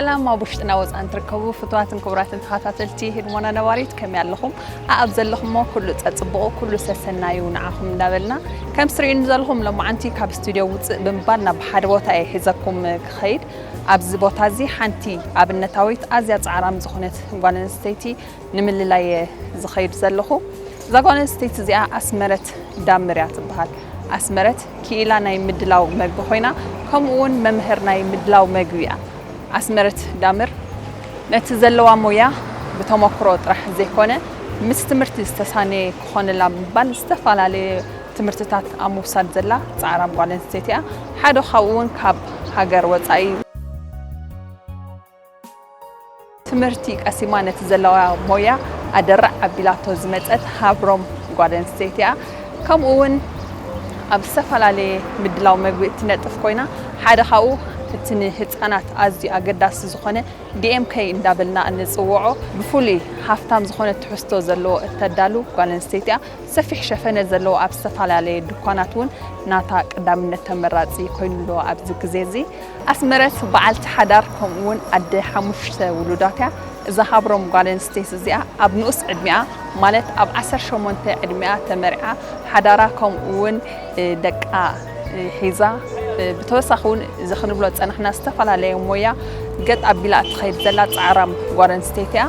ሰላም ኣብ ውሽጥና ወፃን ትርከቡ ፍትዋትን ክቡራትን ተኸታተልቲ ህድሞና ነባሪት ከመይ ኣለኹም ኣኣብ ዘለኹሞ ኩሉ ፀፅብቑ ኩሉ ሰሰናዩ ንዓኹም እንዳበልና ከም ስሪኡኒ ዘለኹም ሎማዓንቲ ካብ ስቱድዮ ውፅእ ብምባል ናብ ሓደ ቦታ እየ ሒዘኩም ክኸይድ ኣብዚ ቦታ እዚ ሓንቲ ኣብነታዊት ኣዝያ ጻዕራም ዝኹነት ጓል ኣንስተይቲ ንምልላይ እየ ዝኸይድ ዘለኹ። እዛ ጓል ኣንስተይቲ እዚኣ ኣስመረት ዳምር እያ ትበሃል። ኣስመረት ክኢላ ናይ ምድላው መግቢ ኮይና ከምኡ እውን መምህር ናይ ምድላው መግቢ እያ። ኣስመረት ዳምር ነቲ ዘለዋ ሞያ ብተሞክሮ ጥራሕ ዘይኮነ ምስ ትምህርቲ ዝተሳነየ ክኾነላ ብምባል ዝተፈላለየ ትምህርትታት ኣብ ምውሳድ ዘላ ጻዕራም ጓል ኣንስተይቲ እያ። ሓደ ካብኡ እውን ካብ ሃገር ወጻኢ። ትምህርቲ ቀሲማ ነቲ ዘለዋ ሞያ ኣደራዕ ኣቢላቶ ዝመጸት ሃብሮም ጓል ኣንስተይቲ እያ። ከምኡ እውን ኣብ ዝተፈላለየ ምድላው መግቢ እትነጥፍ ኮይና ሓደ ካብኡ እቲ ንህጻናት ኣዝዩ ኣገዳሲ ዝኾነ DMK እንዳበልና እንጽውዖ ብፍሉይ ሃፍታም ዝኾነ ትሕዝቶ ዘለዎ እተዳሉ ጓል ኣንስተይቲ እያ። ሰፊሕ ሸፈነ ዘለዎ ኣብ ዝተፈላለየ ድኳናት እውን ናታ ቀዳምነት ተመራፂ ኮይኑ ኣሎ ኣብዚ ግዜ እዚ። ኣስመረት በዓልቲ ሓዳር ከምኡ እውን ኣደ ሓሙሽተ ውሉዳት እያ። እዛ ሃብሮም ጓል ኣንስተይቲ እዚኣ ኣብ ንኡስ ዕድሚኣ ማለት ኣብ ዓሰርተ ሸሞንተ ዕድሚኣ ተመርዕያ ሓዳራ ከምኡ እውን ደቃ ሒዛ ብተወሳኺ እውን እዚ ክንብሎ ዝፀናሕና ዝተፈላለየ ሞያ ገጥ ኣቢላ እትኸይድ ዘላ ፃዕራም ጓል ኣንስተይቲ እያ።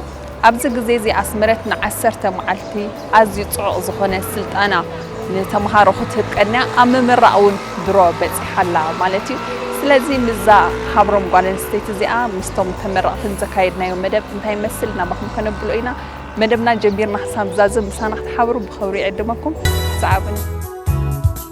ኣብዚ ግዜ እዚ ኣስመረት ንዓሰርተ መዓልቲ ኣዝዩ ጽዑቕ ዝኾነ ስልጠና ንተመሃሮ ክትህብ ቀንያ ኣብ ምምራቕ እውን ድሮ በጺሓ ኣላ ማለት እዩ። ስለዚ ምስዛ ሃብሮም ጓል ኣንስተይቲ እዚኣ ምስቶም ተመረቕትን ዘካየድናዮ መደብ እንታይ ይመስል ናባኹም ከነብሎ ኢና። መደብና ጀሚርና ክሳብ ዛዝም ምሳና ክትሓብሩ ብኽብሪ ይዕድመኩም። ሰዓቡኒ።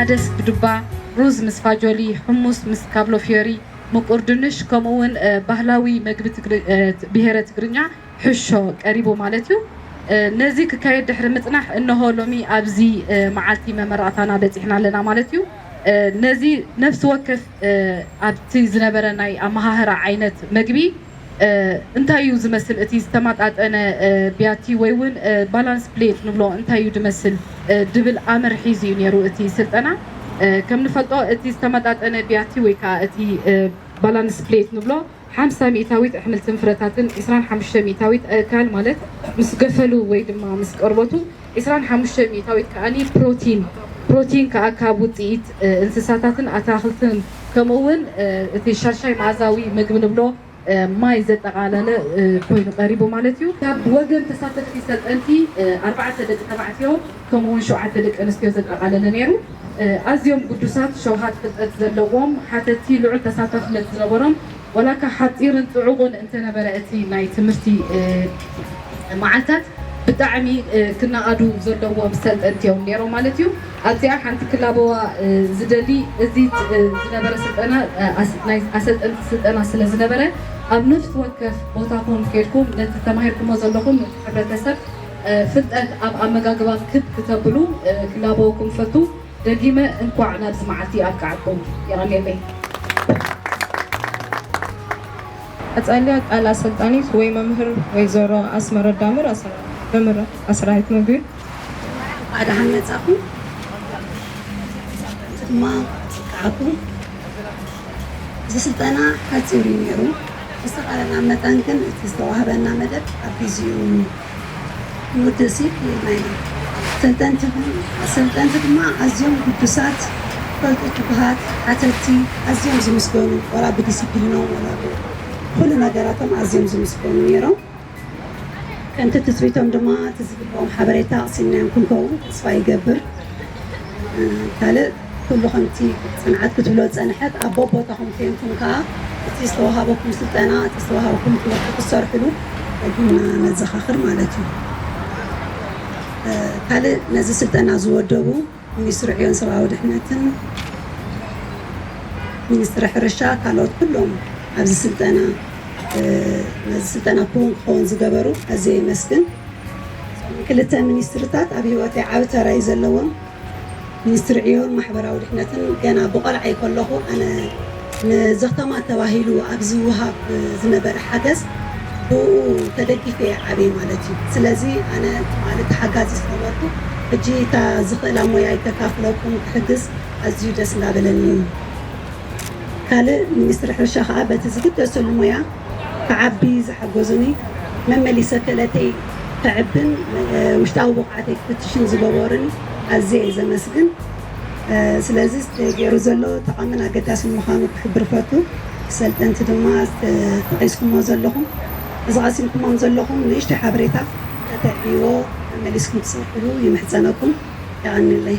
ዓደስ ብዱባ፣ ሩዝ ምስ ፋጆሊ፣ ሑሙስ ምስ ካብሎ ፍዮሪ፣ ምቁር ድንሽ ከምኡ ውን ባህላዊ መግቢ ብሄረ ትግርኛ ሕሾ ቀሪቡ ማለት ዩ። ነዚ ክካየድ ድሕሪ ምፅናሕ እነሆ ሎሚ ኣብዚ መዓልቲ መመረቕታና በፂሕና ኣለና ማለት ዩ። ነዚ ነፍሲ ወከፍ ኣብቲ ዝነበረ ናይ ኣመሃህራ ዓይነት መግቢ፣ እንታይ እዩ ዝመስል እቲ ዝተማጣጠነ ቢያቲ ወይ እውን ባላንስ ፕሌት ንብሎ እንታይ እዩ ድመስል ድብል ኣምር ሒዙ እዩ ነይሩ እቲ ስልጠና ከም ንፈልጦ እቲ ዝተመጣጠነ ቢያቲ ወይ ከዓ እቲ ባላንስ ፕሌት ንብሎ ሓምሳ ሚእታዊት ኣሕምልትን ፍረታትን ዕስራን ሓሙሽተ ሚእታዊት ኣእካል ማለት ምስ ገፈሉ ወይ ድማ ምስ ቀርበቱ ዕስራን ሓሙሽተ ሚእታዊት ከኣኒ ፕሮቲን፣ ፕሮቲን ከኣ ካብ ውጽኢት እንስሳታትን ኣታኽልትን ከምኡ'ውን እቲ ሻሻይ መኣዛዊ መግቢ ንብሎ ማይ ዘጠቓለለ ኮይኑ ቀሪቡ ማለት እዩ። ካብ ወገን ተሳተፍቲ ሰልጠንቲ ኣርባዕተ ደቂ ተባዕትዮ ከምኡ'ውን ሸውዓተ ደቂ ኣንስትዮ ዘጠቓለለ ነይሩ። ኣዝዮም ግዱሳት፣ ሸውሃት ፍልጠት ዘለዎም፣ ሓተቲ፣ ልዑል ተሳታፍነት ዝነበሮም፣ ዋላካ ሓጺርን ጽዑቕን እንተነበረ እቲ ናይ ትምህርቲ መዓልታት ብጣዕሚ ክናኣዱ ዘለዎም ሰልጠንቲ እዮም ኔሮም ማለት እዩ። ኣብዚኣ ሓንቲ ክላበዋ ዝደሊ እዚ ዝነበረ ስልጠና ናይ ኣሰልጠንቲ ስልጠና ስለ ዝነበረ ኣብ ነፍሲ ወከፍ ቦታኹም ኬድኩም ነቲ ተማሂርኩሞ ዘለኹም ነቲ ሕብረተሰብ ፍልጠት ኣብ ኣመጋግባ ክብ ክተብሉ ክላበወኩም እፈቱ። ደጊመ እንኳዕ ናብዚ መዓልቲ ኣብቀዓኩም የቀኔለይ። ቀጻሊ ቃል ኣሰልጣኒት ወይ መምህር ወይዘሮ ኣስመረት ዳምር ኣሰራሪት መምህር ኣሰራሪት ምግቢ። እንኳዕ ደሓን መጻኹም ተመልሰቲ ድማ ኣብቀዓኩም እዚ ስልጠና ሓጺር እዩ ኔሩ ብዝተኻለና መጠን ግን እቲ ዝተዋህበና መደብ ኣብ ግዚኡ መወደሲ ክህልወና እዩ። ኣሰልጠንቲ ድማ ኣዝዮም ግዱሳት፣ ፈልጡት፣ ትጉሃት፣ ሓተትቲ፣ ኣዝዮም ዝምስገኑ ዋላ ብዲሲፕሊኖም ዋላ ብኹሉ ነገራቶም ኣዝዮም ዝምስገኑ ነይሮም። ከምቲ ትፅቢቶም ድማ እቲ ዝግበኦም ሓበሬታ ቀሲምናዮም ክንከውን ተስፋ ይገብር። ካልእ ኩሉ ከምቲ ጽንዓት ክትብሎ ዝጸንሐት ኣብ በቦታኹም ኴንኩም ከኣ እቲ ዝተወሃበኩም ስልጠና እቲ ዝተወሃበኩም ትምህርቲ ክትሰርሕሉ ደጊምና ነዘኻኽር ማለት እዩ። ካልእ ነዚ ስልጠና ዝወደቡ ሚኒስትሪ ዕዮን ሰብኣዊ ድሕነትን ሚኒስትሪ ሕርሻ ካልኦት ኩሎም ኣብዚ ስልጠና ነዚ ስልጠና ክውን ክኸውን ዝገበሩ ኣዝየ የመስግን። ክልተ ሚኒስትርታት ኣብ ሂወተይ ዓቢ ተራ እዩ ዘለዎም። ሚኒስትሪ ዕዮን ማሕበራዊ ድሕነትን ገና ብቆልዓይ ከለኹ ኣነ ንዘኽተማ ተባሂሉ ኣብ ዝውሃብ ዝነበረ ሓገዝ ብእኡ ተደጊፈ እየ ዓብየ ማለት እዩ። ስለዚ ኣነ ትማሊ ተሓጋዚ ዝነበርኩ ሕጂ እታ ዝኽእላ ሞያይ ከካፍለኩም ክሕግዝ ኣዝዩ ደስ እንዳበለኒ እዩ። ካልእ ሚኒስትሪ ሕርሻ ከኣ በቲ ዝግደሰሉ ሞያ ክዓቢ ዝሓገዙኒ መመሊሰ ክእለተይ ከዕብን ውሽጣዊ ብቕዓተይ ክፍትሽን ዝገበሩኒ ኣዝየ እየ ዘመስግን። ስለዚ ገይሩ ዘሎ ጠቓምን ኣገዳስን ምዃኑ ክሕብር እፈቱ። ሰልጠንቲ ድማ እዚ ጠቒስኩሞ ዘለኹም እዚ ቀሲምኩሞም ዘለኹም ንእሽተይ ሓበሬታ ከተዕብይዎ መመሊስኩም ክትሰርሕሉ ይምሕጸነኩም። የቐንየለይ።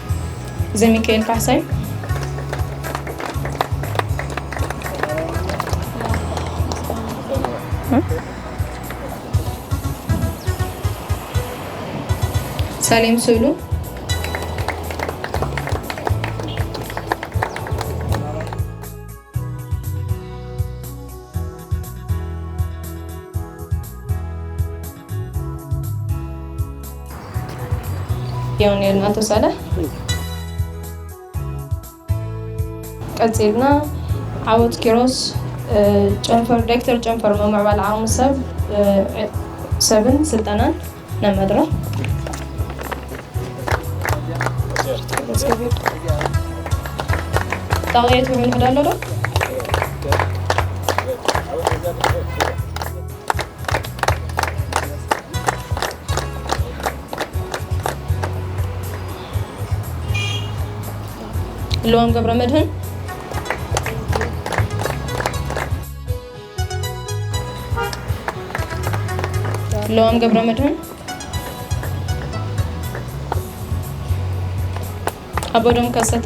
ዘሚካኤል ካሕሳይ ሳሌም ስእሉ ያው ነርና ኣቶ ሳላሕ ቀፂልና ዓወት ኪሮስ ጨንፈር ዳይክተር ጨንፈር ምምዕባል ዓቕሚ ሰብ ሰብን ስልጠናን ናብ መድረኽ ጣቕየት ምምሕዳ ኣሎ ዶ ልዋም ገብረ መድህን ለዋም ገብረ መድህን አቦዶም ከሰተ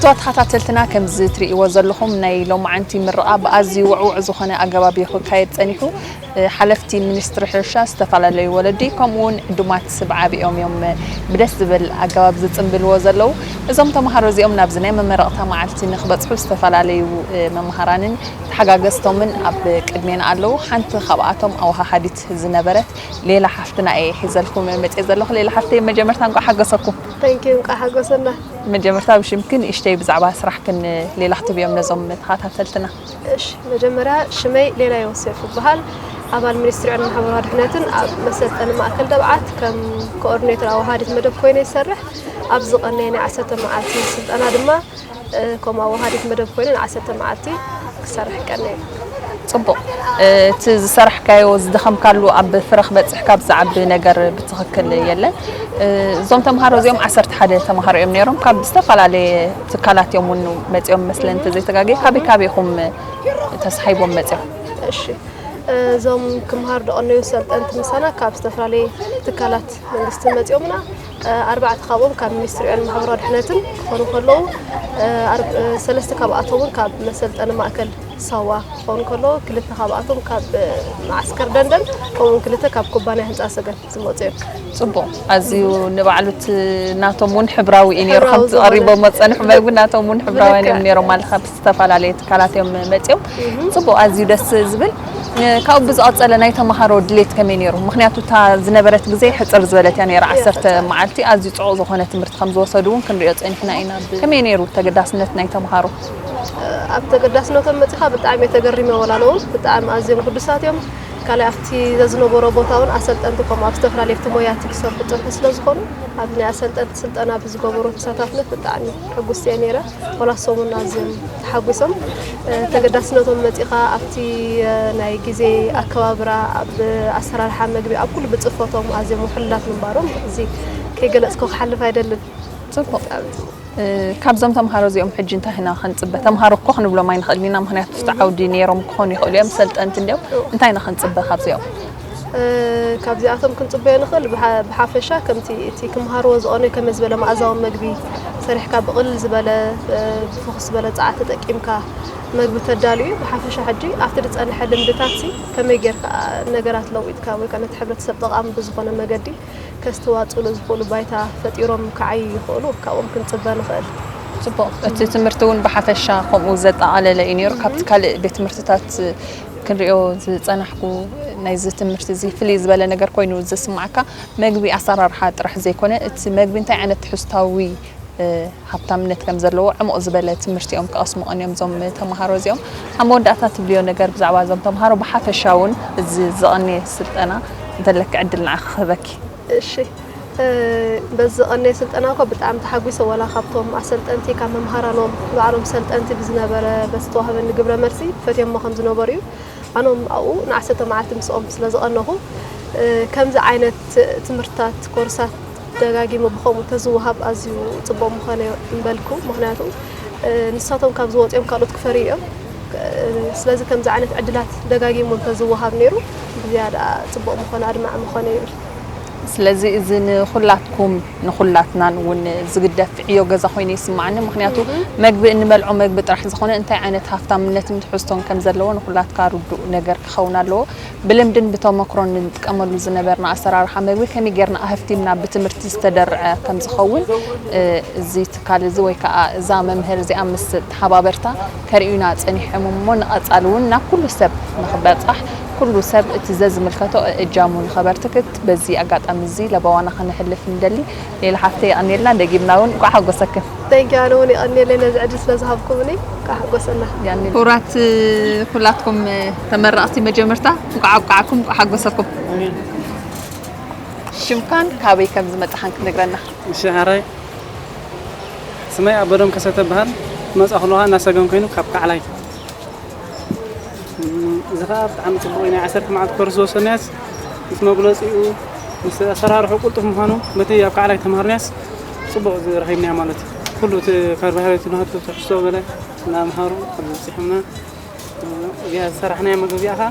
ፍትዋት ተኸታተልትና ከምዚ ትርእይዎ ዘለኹም ናይ ሎማዓንቲ ምርቓ ብኣዝዩ ውዕውዕ ዝኾነ ኣገባብ እዩ ክካየድ ጸኒሑ። ሓለፍቲ ሚኒስትሪ ሕርሻ፣ ዝተፈላለዩ ወለዲ ከምኡ እውን ዕዱማት ስብ ዓቢኦም እዮም ብደስ ዝብል ኣገባብ ዝጽምብልዎ ዘለዉ። እዞም ተምሃሮ እዚኦም ናብዚ ናይ መመረቕታ መዓልቲ ንክበጽሑ ዝተፈላለዩ መምሃራንን ተሓጋገዝቶምን ኣብ ቅድሜና ኣለዉ። ሓንቲ ካብኣቶም ኣወሃሃዲት ዝነበረት ሌላ ሓፍትና እየ ሒዘልኩም መጽየ ዘለኹ። ሌላ ሓፍተይ መጀመርታ እንቋዕ ሓገሰኩም። Thank you እንቋዕ ሓጎሰና። መጀመርታ ብሽምኪ ንእሽተይ ብዛዕባ ስራሕኪ ንሌላ ክትብዮም ነዞም ተኻታተልትና። እሺ መጀመርያ ሽመይ ሌላ ዮሴፍ እብሃል ኣባል ሚኒስትሪ ዕድመን ማሕበራዊ ድሕነትን ኣብ መሰልጠኒ ማእከል ደብዓት ከም ኮኦርዲኔተር ኣወሃሃዲት መደብ ኮይነ ይሰርሕ። ኣብ ዝቐነየ ናይ ዓሰርተ መዓልቲ ስልጠና ድማ ከም ኣወሃዲት መደብ ኮይኑ ንዓሰርተ መዓልቲ ክሰርሕ ቀንየ። ጽቡቕ። እቲ ዝሰራሕካዮ ዝደኸምካሉ ኣብ ፍረ ክበጽሕ ካብ ዝዓቢ ነገር ብትኽክል የለን። እዞም ተምሃሮ እዚኦም ዓሰርተ ሓደ ተምሃሮ እዮም ነይሮም። ካብ ዝተፈላለየ ትካላት እዮም እውን መጺኦም መስለኒ እንተዘይተጋግየ። ካበይ ካበይ ኢኹም ተሳሒቦም መጺኦም? እሺ እዞም ክምሃር ደቐነዩ ሰልጠንቲ ምሳና ካብ ዝተፈላለየ ትካላት መንግስቲ መጺኦምና። ኣርባዕተ ካብኦም ካብ ሚኒስትሪ ዕዮን ማሕበራዊ ድሕነትን ክኾኑ ከለዉ ሰለስተ ካብኣቶም እውን ካብ መሰልጠኒ ማእከል ሳዋ ክኾኑ ከለዉ ክልተ ካብኣቶም ካብ መዓስከር ደንደን ከምኡውን ክልተ ካብ ኩባንያ ህንፃ ሰገን ዝመፁ እዮም። ፅቡቕ ኣዝዩ ንባዕሉ እቲ ናቶም እውን ሕብራዊ እዩ ነይሩ ከምቲ ቀሪቦሞ ዝፀንሑ መግቢ ናቶም እውን ሕብራውያን እዮም ነይሮም ኣለካ ዝተፈላለዩ ትካላት እዮም መፂኦም ፅቡቅ ኣዝዩ ደስ ዝብል ካብኡ ብዝቐፀለ ናይ ተምሃሮ ድሌት ከመይ ነይሩ? ምክንያቱ እታ ዝነበረት ግዜ ሕፅር ዝበለት እያ ነይራ ዓሰርተ መዓልቲ ኣዝዩ ፅዑቕ ዝኾነ ትምህርቲ ከም ዝወሰዱ እውን ክንሪኦ ፀኒሕና ኢና። ከመይ ነይሩ ተገዳስነት ናይ ተምሃሮ? ኣብ ተገዳስነቶም መፂኻ ብጣዕሚ እየ ተገሪመ ወላ ንውን ብጣዕሚ ኣዝዮም ግዱሳት እዮም። ካልእ ኣብቲ ዘዝነበሮ ቦታ እውን ኣሰልጠንቲ ከምኡ ኣብ ዝተፈላለዩ ኣብቲ ሞያቲ ክሰርሑ ዝፀንሑ ስለ ዝኾኑ ኣብ ናይ ኣሰልጠንቲ ስልጠና ብዝገበሩ ተሳታፍነት ብጣዕሚ ሕጉስቲ እየ ነይረ። ዋላ ሰሙን ኣዝዮም ተሓጒሶም ተገዳስነቶም መጺኻ ኣብቲ ናይ ግዜ ኣከባብራ ኣብ ኣሰራርሓ መግቢ ኣብ ኩሉ ብጽፈቶም ኣዝዮም ውሕሉላት ምንባሮም እዚ ከይገለጽኮ ክሓልፍ ኣይደልን። ጽቡቕ ካብዞም ተምሃሮ እዚኦም ሕጂ እንታይ ኢና ክንጽበ? ተምሃሮ እኮ ክንብሎም ኣይንኽእልን ኢና፣ ምኽንያቱ ኣብቲ ዓውዲ ነይሮም ክኾኑ ይኽእሉ እዮም፣ ሰልጠንቲ እንድዮም፣ እንታይ ኢና ክንጽበ ካብዚኦም? ካብዚኣቶም ክንጽበዮ ንኽእል ብሓፈሻ ከምቲ እቲ ክምሃርዎ ዝቐነዩ ከመ ዝበለ መኣዛዊ መግቢ ሰሪሕካ ብቕልል ዝበለ ብፍኹስ ዝበለ ጸዓት ተጠቂምካ መግቢ ተዳሉ እዩ ብሓፈሻ ሕጂ ኣብቲ ዝጸንሐ ልምድታት ሲ ከመይ ጌርካ ነገራት ለዊጥካ ወይ ከዓ ነቲ ሕብረተሰብ ጠቓሚ ብዝኾነ መገዲ ከስተዋጽሉ ዝኽእሉ ባይታ ፈጢሮም ክዓዩ ይኽእሉ ካብኦም ክንጽበ ንኽእል ጽቡቕ እቲ ትምህርቲ እውን ብሓፈሻ ከምኡ ዘጠቓለለ እዩ ነይሩ ካብቲ ካልእ ቤት ትምህርትታት ክንሪኦ ዝጸናሕኩ ናይዚ ትምህርቲ እዚ ፍልይ ዝበለ ነገር ኮይኑ ዝስማዓካ መግቢ ኣሰራርሓ ጥራሕ ዘይኮነ እቲ መግቢ እንታይ ዓይነት ትሕዝታዊ ሃብታምነት ከም ዘለዎ ዕሙቕ ዝበለ ትምህርቲ እዮም ክቐስሙ ቀንዮም እዞም ተምሃሮ እዚኦም። ኣብ መወዳእታ ትብልዮ ነገር ብዛዕባ እዞም ተምሃሮ ብሓፈሻ እውን እዚ ዘቐንየ ስልጠና እንተለኪ ዕድል ንዓኺ ክህበኪ። እሺ በዚ ዝቐነየ ስልጠና እኮ ብጣዕሚ ተሓጒሰ ዋላ ካብቶም ኣሰልጠንቲ ካብ መምሃራኖም ባዕሎም ሰልጠንቲ ብዝነበረ በቲ ዝተዋህበኒ ግብረ መልሲ ፈትዮሞ ከም ዝነበሩ እዩ ኣኖም ኣብኡ ንዓሰርተ መዓልቲ ምስኦም ስለ ዝቐነኹ ከምዚ ዓይነት ትምህርትታት ኮርሳት ደጋጊሙ ብከምኡ ተዝወሃብ ኣዝዩ ጽቡቕ ምኾነ እምበልኩ ምክንያቱ ንሳቶም ካብ ዝወጽኦም ካልኦት ክፈርዩ እዮም ስለዚ ከምዚ ዓይነት ዕድላት ደጋጊሙ እንተዝወሃብ ነይሩ ብዝያዳ ጽቡቕ ምኾነ ኣድማዒ ምኾነ ይብል። ስለዚ እዚ ንኹላትኩም ንኹላትናን እውን ዝግደፍ ዕዮ ገዛ ኮይኑ ይስማዓኒ ምኽንያቱ መግቢ እንበልዖ መግቢ ጥራሕ ዝኾነ እንታይ ዓይነት ሃፍታምነትን ትሕዝቶን ከም ዘለዎ ንኹላትካ ርዱእ ነገር ክኸውን ኣለዎ ብልምድን ብተሞክሮን እንጥቀመሉ ዝነበርና ኣሰራርሓ መግቢ ከመይ ጌርና ኣሀፍቲምና ብትምህርቲ ዝተደርዐ ከም ዝኸውን እዚ ትካል እዚ ወይ ከዓ እዛ መምህር እዚኣ ምስ ተሓባበርታ ከርእዩና ጸኒሖም እሞ ንቐጻሊ እውን ናብ ኩሉ ሰብ ንኽበጻሕ ኩሉ ሰብ እቲ ዘዝምልከቶ እእጃሙ ንኸበርትክት በዚ ኣጋጣሚ እዚ ለበዋና ከነሕልፍ ንደሊ። ሌሊ ሓፍተይ የቐንየልና ደጊምና እውን እንቋዕ ሓጎሰክን። Thank you ኣነ ውን የቀንየለይ ነዚ ዕድል ስለ ዝሃብኩምኒ እንቃዕ ሓጎሰና። ክቡራት ኩላትኩም ተመረቅቲ መጀመርታ እንቋዕ ኣብቃዓኩም እንቋዕ ሓጎሰኩም። ሽምካን ካበይ ከምዝመጻኻን ክትነግረና። ሽዕረይ። ስመይ ኣበዶም ከሰተ እብሃል። ክመጽኣ ከለኹ ከኣ እናሰገም ኮይኑ ካብ ካዕላይ። እዚ ከኣ ብጣዕሚ ጽቡቕ'ዩ። ናይ ዓሰርተ መዓልቲ ኮርስ ዝወሰድናዮስ ምስ መጉለጺኡ ምስ ኣሰራርሑ ቅልጡፍ ምዃኑ በቲ ኣብ ካዕላይ ተማሃርናዮስ ጽቡቕ ረኺብናዮ ማለት እዩ። ኩሉ እቲ ካርቦሃይድሬት ንሃቱ ትሕዝቶ ገለ እናምሃሩ ኣብዚ ኣብጺሖምና። እዚኣ ዝሰራሕናያ መግቢ እዚኣ ከኣ።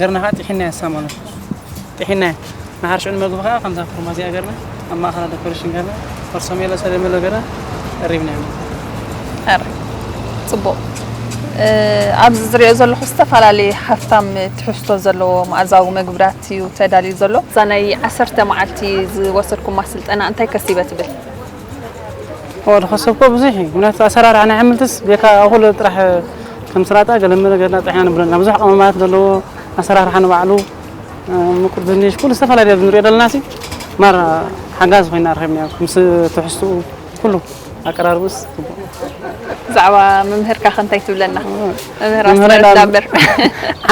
ገርና ከኣ ጢሒናያ ሳሞና ጢሒናያ ንሓር ሽዑ ንመግቢ ከኣ ከምዛ ኩርማ እዚኣ ገርና ኣብ ማእኸላ ደኮሬሽን ገርና ፈርሶሜሎ ሰለሜሎ ገርና ቀሪብናያ ኣረ ጽቡቕ ኣብዚ ዝሪኦ ዘለኹ ዝተፈላለየ ሃፍታም ትሕዝቶ ዘለዎ መኣዛዊ መግብራት እዩ ተዳልዩ ዘሎ እዛ ናይ ዓሰርተ መዓልቲ ዝወሰድኩማ ስልጠና እንታይ ከሲበ ትብል ወዲ ከሰብኮ ብዙሕ እዩ ምክንያቱ ኣሰራርሓ ናይ ኣሕምልትስ ቤካ ኣኹሎ ጥራሕ ከም ስላጣ ገለመለ ገርና ጥሒና ንብለና ብዙሕ ቀመማት ዘለዎ ኣሰራርሓ ንባዕሉ ምቁር ድንሽ ኩሉ ዝተፈላለየ ኣብዚ ንሪኦ ዘለና ሲ ማራ ሓጋዚ ኮይና ረኺብናዮ ምስ ትሕዝትኡ ኩሉ ኣቀራርቡስ ብዛዕባ መምህርካ ከ እንታይ ትብለና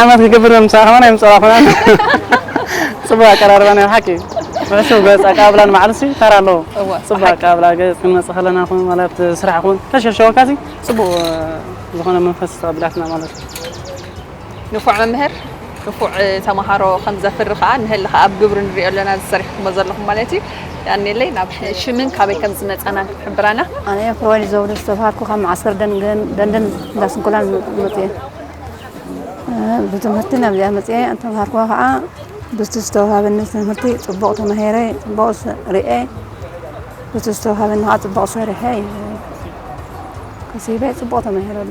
ዓመት ክገብር ምሳኻ ከማን ኣይምጸራኹናን ጽቡቅ ኣቀራርባ ናይ ብሓቂ ብሕሱም ገጽ ኣቀባብላ ንባዕሉሲ ተራ ኣለዎ ጽቡቅ ኣቀባብላ ገጽ ክንመጽእ ከለና ኹን ማለት ስራሕ ኹን ከሸሸወካሲ ጽቡቅ ዝኾነ መንፈስ ተቀቢላትና ማለት እዩ ንፉዕ መምህር ንፉዕ ተማሃሮ ከም ዘፍሪ ከኣ ንሀሊ ከኣ ኣብ ግብሪ ንሪኦ ኣለና እዚ ሰሪሕኩሞ ዘለኹም ማለት እዩ የቀንየለይ ናብ ሽምን ካበይ ከም ዝመጻናን ክትሕብራና። ኣነ እየ ፍሮዋይድ ዘውዱ ዝተባሃልኩ ካብ መዓስከር ደንደን እንዳ ስንኩላን ዝመጽ እየ ብትምህርቲ ናብዚኣ መጽኤ ተምሃርኩዋ ከዓ ብቲ ዝተውሃበኒ ትምህርቲ ፅቡቕ ተማሂረ ፅቡቕ ርኤ ብቲ ዝተውሃበኒ ከዓ ፅቡቕ ሰሪሐ ከሲበ ፅቡቕ ተማሂረሉ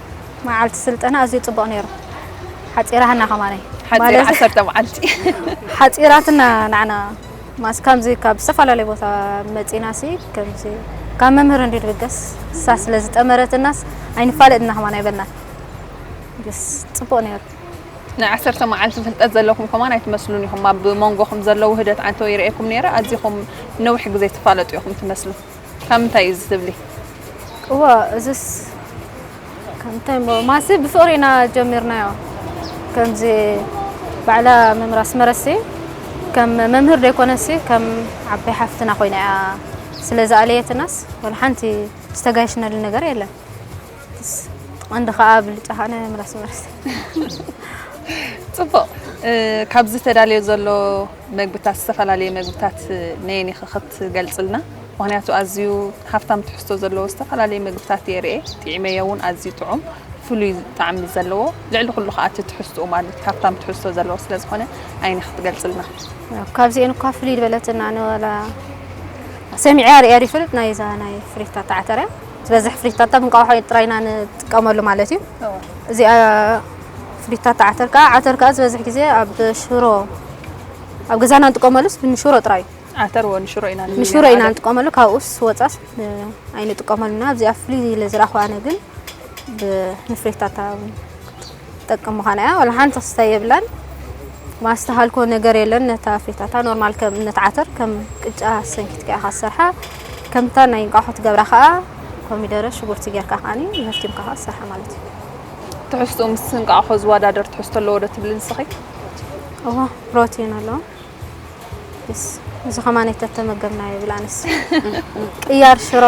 መዓልቲ ስልጠና ኣዝዩ ጽቡቕ ነይሩ ሓጺራትና ከማነይ ሓጺራ ዓሰርተ መዓልቲ ሓጺራትና ንዓና ማስ ከምዚ ካብ ዝተፈላለዩ ቦታ መጺና ሲ ከምዚ ካብ መምህር እንዲ ድብገስ እሳ ስለ ዝጠመረትናስ ኣይንፋለጥና ከማን ኣይበልናን ደስ ጽቡቕ ነይሩ ናይ ዓሰርተ መዓልቲ ፍልጠት ዘለኹም ከማን ኣይትመስሉን ኢኹም ኣብ መንጎኹም ዘለዉ ህደት ዓንተው ይርእየኩም ነይረ ኣዚኹም ነዊሕ ግዜ ትፋለጡ ኢኹም ትመስሉ ካብ ምንታይ እዩ እዚ ትብሊ? እወ እዝስ ከምታይ እሞ ማሲ ብፍቕሪ ኢና ጀሚርናዮ ከምዚ ባዕላ መምህር ኣስመረሲ ከም መምህር ዘይኮነሲ ከም ዓባይ ሓፍትና ኮይና እያ ስለ ዝኣለየትናስ ወላ ሓንቲ ዝተጋየሽናሉ ነገር የለን ቀንዲ ከዓ ብልጫ ከዓ ናይ መምህር ኣስመረሲ ፅቡቕ ካብዚ ተዳልዮ ዘሎ መግብታት ዝተፈላለየ መግብታት ነየን ኢኺ ትገልጽልና ምክንያቱ ኣዝዩ ሃፍታም ትሕዝቶ ዘለዎ ዝተፈላለየ ምግብታት እየ ርኤ ጢዒመዮ እውን ኣዝዩ ጥዑም ፍሉይ ጣዕሚ ዘለዎ ልዕሊ ኩሉ ከዓ እቲ ትሕዝትኡ ማለት ሃፍታም ትሕዝቶ ዘለዎ ስለ ዝኾነ ዓይኒ ክትገልጽልና ካብዚኤን እኳ ፍልይ ዝበለትና ንወላ ሰሚዐያ ርያ ይፈልጥ ናይ ዛ ናይ ፍሪታ ተዓተርያ ዝበዝሕ ፍሪታታ ብንቋሖ ጥራይና ንጥቀመሉ ማለት እዩ እዚኣ ፍሪታታ ዓተር ከዓ ዓተር ከዓ ዝበዝሕ ግዜ ኣብ ሽሮ ኣብ ገዛና ንጥቀመሉስ ብሽሮ ጥራይ እዩ ዓተር ወ ንሽሮ ኢና ንሽሮ ኢና ንጥቀመሉ ካብኡስ ወፃስ ኣይንጥቀመሉና ኣብዚኣ ፍሉይ ኢለ ዝረኣኹ ኣነ ግን ብንፍሬታታ ጠቅም ምዃና እያ ዋላ ሓንቲ ክስተ የብላን ማስተሃልኮ ነገር የለን ነታ ፍሬታታ ኖርማል ከም ነቲ ዓተር ከም ቅጫ ሰንኪትካ ኢኻ ዝሰርሓ ከምታ ናይ እንቋሖ ትገብራ ከዓ ኮሚደረ ሽጉርቲ ጌርካ ከዓኒ መፍቲምካ ከዓ ዝሰርሓ ማለት እዩ ትሕዝትኡ ምስ እንቋሖ ዝወዳደር ትሕዝቶ ኣለዎ ዶ ትብሊ ንስኺ እዋ ፕሮቲን ኣለዎ እዚ ከማን የተተመገብና ይብል ኣነስ ቅያር ሽሮ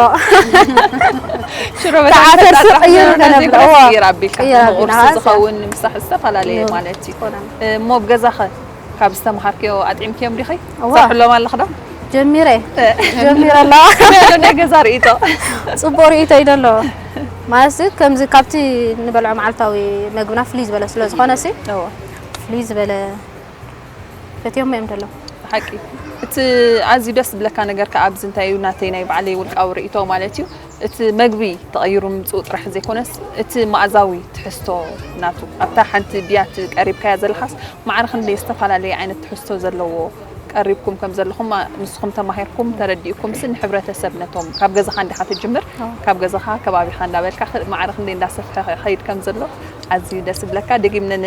ሽሮ ብተዓሰር ቅይር ገነብላ ቅይር ኣቢልካ ቁርሲ ዝኸውን ምሳሕ ዝተፈላለየ ማለት እዩ እሞ ኣብ ገዛኸ ካብ ዝተምሃርክዮ ኣጥዒምክዮም ዲኺ ሰርሕሎም ኣለኽ ዶ ጀሚረ ጀሚረ ኣለዋ ናይ ገዛ ርእቶ ፅቡቅ ርእቶ እዩ ደሎ ማለት ከምዚ ካብቲ ንበልዖ መዓልታዊ መግብና ፍልይ ዝበለ ስለ ዝኾነ ሲ ፍልይ ዝበለ ፈትዮሞ እዮም ደለው ብሓቂ እቲ ኣዝዩ ደስ ዝብለካ ነገር ከዓ ኣብዚ እንታይ እዩ ናተይ ናይ ባዕለይ ውልቃዊ ርእይቶ ማለት እዩ እቲ መግቢ ተቐይሩ ምምፅኡ ጥራሕ ዘይኮነስ እቲ መኣዛዊ ትሕዝቶ ናቱ ኣብታ ሓንቲ ብያቲ ቀሪብካያ ዘለኻስ ማዕረ ክንደይ ዝተፈላለየ ዓይነት ትሕዝቶ ዘለዎ ቀሪብኩም ከም ዘለኹም ንስኹም ተማሂርኩም ተረዲእኩም ሲ ንሕብረተሰብ ነቶም ካብ ገዛኻ እንዲኻ ትጅምር ካብ ገዛኻ ከባቢኻ እንዳበልካ ማዕረ ክንደይ እንዳሰፍሐ ከይድ ከም ዘሎ ኣዝዩ ደስ ይብለካ ደጊምነ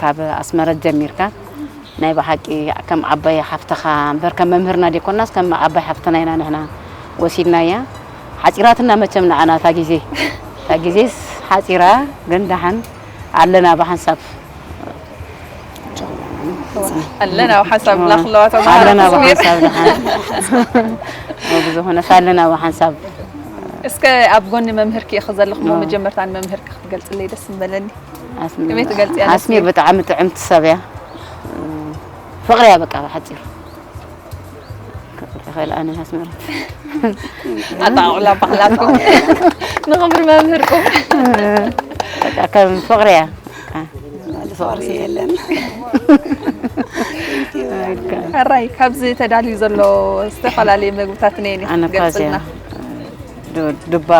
ካብ ኣስመረት ጀሚርካ ናይ ብሓቂ ከም ዓባይ ሓፍትኻ እምበር ከም መምህርና ዘይኮናስ ከም ዓባይ ሓፍትና ኢና ንሕና ወሲድናያ ሓጺራትና መቸም ንዓና እታ ግዜ እታ ግዜስ ሓጺራ ግን ደሓን ኣለና ብሓንሳብ ኣለና ኣብ ሓንሳብ ብላ ክለዋ ተማሃሮ ኣለና ኣብ ተስሚር ሓንሳብ ደሓን ብዝኾነስ ኣለና ኣብ ሓንሳብ እስከ ኣብ ጎኒ መምህርኪ ኢኺ ዘለኹሞ መጀመርታ ንመምህርኪ ክትገልጽለይ ደስ ምበለኒ ከመይ ትገልጽያ? ኣስሚር ብጣዕሚ ጥዕምቲ ሰብ እያ ፍቕሪ እያ በቃ ብሓጺሩ ይኽእል ኣነ ኣስመራ ኣጣቕላ ባህላትኩም ንኽብሪ መምህርኩም በቃ ከም ፍቕሪ እያ ፍቕሪ የለን ሕራይ ካብዚ ተዳልዩ ዘሎ ዝተፈላለዩ መግብታት ነየን ክትገልጽልና ዱባ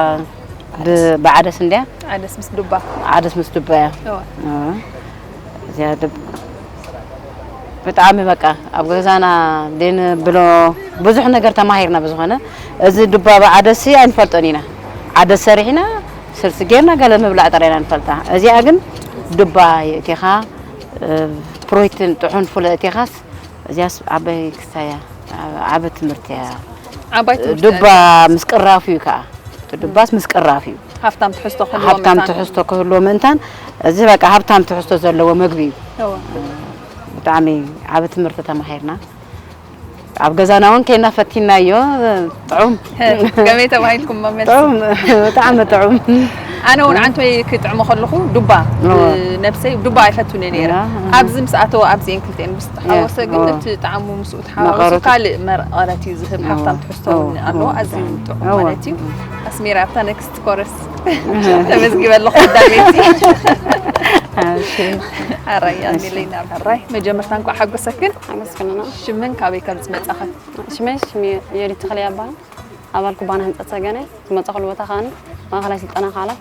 ብዓደስ እንድያ ዓደስ ምስ ዱባ ዓደስ ምስ ዱባ እያ እዚኣ ብጣዕሚ በቃ ኣብ ገዛና ብሎ ብዙሕ ነገር ተማሂርና ብዝኾነ እዚ ዱባ ብዓደስ ኣይንፈልጦን ኢና ዓደስ ሰሪሕና ስልሲ ጌርና ገለ ምብላዕ ጥራይና ንፈልጣ እዚኣ ግን ዱባ የእቲኻ ፕሮቲን ጥዑን ፍለ እቲኻስ እዚያስ ዓበይ ክሳያ ዓበ ትምህርቲ እያ ዓባይ ትምህርቲ እያ ዱባ እዚኣ። ምስ ቅራፉ እዩ ከኣ እቲ ዱባስ ምስ ቅራፍ እዩ ሃብታም ትሕዝቶ ክህልዎ ሃብታም መታን። ትሕዝቶ ክህልዎ ምእንታን እዚ በቃ ሃብታም ትሕዝቶ ዘለዎ መግቢ እዩ እወ። ብጣዕሚ ዓቢ ትምህርቲ ተማሂርና ኣብ ገዛና እውን ኬና ፈቲናዮ ጥዑም ከመይ ተባሂልኩም መመልሲ? ጥዑም ብጣዕሚ ጥዑም ኣነ እውን ዓንቶይ ክጥዕሞ ከለኹ ዱባ እወ። ነብሰይ ዱባ ኣይፈቱን እየ ነይረ እያ፣ እህ። ኣብዚ ምስ ኣተወ ኣብዚ እየን ክልቲኤን ምስ ተሓወሰ ግን እወ። እቲ ጣዕሙ ምስኡ ተሓዋዊሱ ካልእ መቐረት እዩ ዝህብ ሃፍታም ትሕዝቶ እውን ኣለዎ ኣዝዩ ጥዑም ማለት እዩ ኣስሜራ ኣብታ ነክስት ኮረስ ተመዝጊበ ኣለኹ ኣዳሜቲ ኣራያ ሚለይና ኣራይ መጀመርታ እንኳዕ ሓጎሰክን ኣመስግንና ሽምን ካበይ ከም ዝመፃኸን ሽመይ ሽም የዲ ተኽለ ይባሃል ኣባል ኩባና ህንፀት ሰገነ ዝመፀኹሉ ቦታ ከዓኒ ማእኸላይ ስልጠና ካላት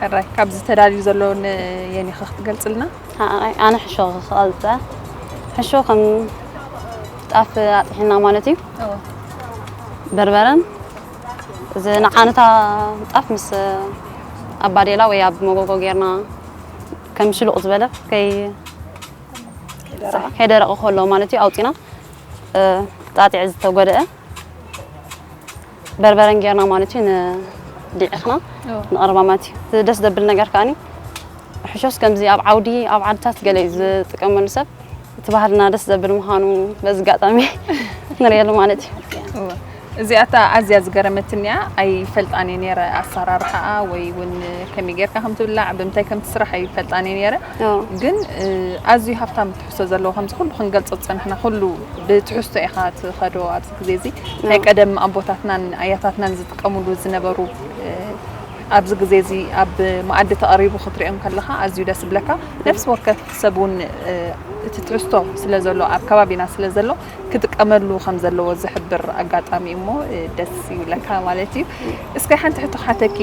ሕራይ ካብዚ ተዳልዩ ዘሎ ንየኒኸ ክትገልጽልና? ሓኣይ ኣነ ሕሾ ክቐልጸ ሕሾ ከም ጣፍ ኣጥሒና ማለት እዩ በርበረን እዚ ንዓነታ ጣፍ ምስ ኣብ ባዴላ ወይ ኣብ መጎጎ ጌርና ከም ሽሉቕ ዝበለ ከይ ከይደረቐ ከሎ ማለት እዩ ኣውፂና ጣጢዕ ዝተጎደአ በርበረን ጌርና ማለት እዩ ንዲዕኽና ንቕርባ ማለት እዩ እቲ ደስ ዘብል ነገር ከዓኒ ሕሾስ ከምዚ ኣብ ዓውዲ ኣብ ዓድታት ገለ እዩ ዝጥቀመሉ ሰብ እቲ ባህልና ደስ ዘብል ምዃኑ በዚ ኣጋጣሚ ንሪኤሉ ማለት እዩ እዚኣታ ኣዝያ ዝገረመትኒ እያ ኣይፈልጣን እየ ነይረ ኣሰራርሓኣ ወይ እውን ከመይ ጌርካ ከም ትብላዕ ብምንታይ ከም ትስራሕ ኣይፈልጣን እየ ነይረ ግን ኣዝዩ ሃፍታም ትሕዝቶ ዘለዎ ከምዚ ኩሉ ክንገልፆ ዝፀናሕና ኩሉ ብትሕዝቶ ኢኻ ትኸዶ ግዜ እዚ ናይ ቀደም ኣቦታትናን ኣያታትናን ዝጥቀምሉ ዝነበሩ ኣብዚ ግዜ እዚ ኣብ መኣዲ ተቐሪቡ ክትሪኦም ከለኻ ኣዝዩ ደስ ዝብለካ ነፍሲ ወከፍ ሰብ እውን እቲ ትሕዝቶ ስለ ዘሎ ኣብ ከባቢና ስለ ዘሎ ክጥቀመሉ ከም ዘለዎ ዝሕብር ኣጋጣሚ እዩ እሞ ደስ ይብለካ ማለት እዩ። እስከ ሓንቲ ሕቶ ክሓተኪ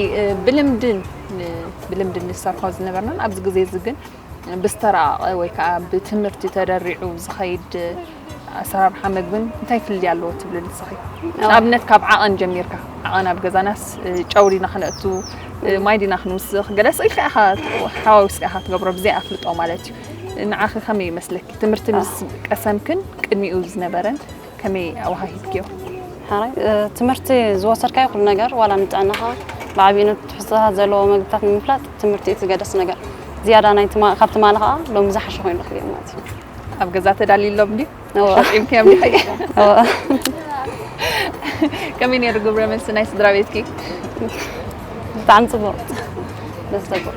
ብልምድን ብልምድን ንሰርሖ ዝነበርናን ኣብዚ ግዜ እዚ ግን ብዝተራቐቐ ወይ ከዓ ብትምህርቲ ተደሪዑ ዝኸይድ ኣሰራርሓ መግብን እንታይ ፍልልይ ኣለዎ ትብሊ ንስኺ? ንኣብነት ካብ ዓቐን ጀሚርካ ዓቐን ኣብ ገዛናስ ጨው ዲና ክነእቱ ማይ ዲና ክንውስኽ ገለስ ኢልካ ኢኻ ሓዋዊስካ ኢኻ ትገብሮ ብዘይ ኣፍልጦ ማለት እዩ። ንዓኺ ከመይ ይመስለኪ ትምህርቲ ምስ ቀሰምክን ቅድሚኡ ዝነበረን ከመይ ኣወሃሂድክዮ? ሕራይ ትምህርቲ ዝወሰድካዮ ኩሉ ነገር ዋላ ንጥዕናኻ ብዓቢኡ ነቲ ትሕዝቶታት ዘለዎ መግብታት ንምፍላጥ ትምህርቲ እቲ ዝገደስ ነገር ዝያዳ ናይ ትማ ካብ ትማሊ ከኣ ሎሚ ዝሓሸ ኮይኑ ረኺበዮ ማለት እዩ። ኣብ ገዛ ተዳልዩሎም ድዩ? እወ። ኣሸቂምክዮም ዲኺ? እወ። ከመይ ነይሩ ግብረ መልሲ ናይ ስድራ ቤትኪ? ብጣዕሚ ጽቡቕ ደስ ዘብል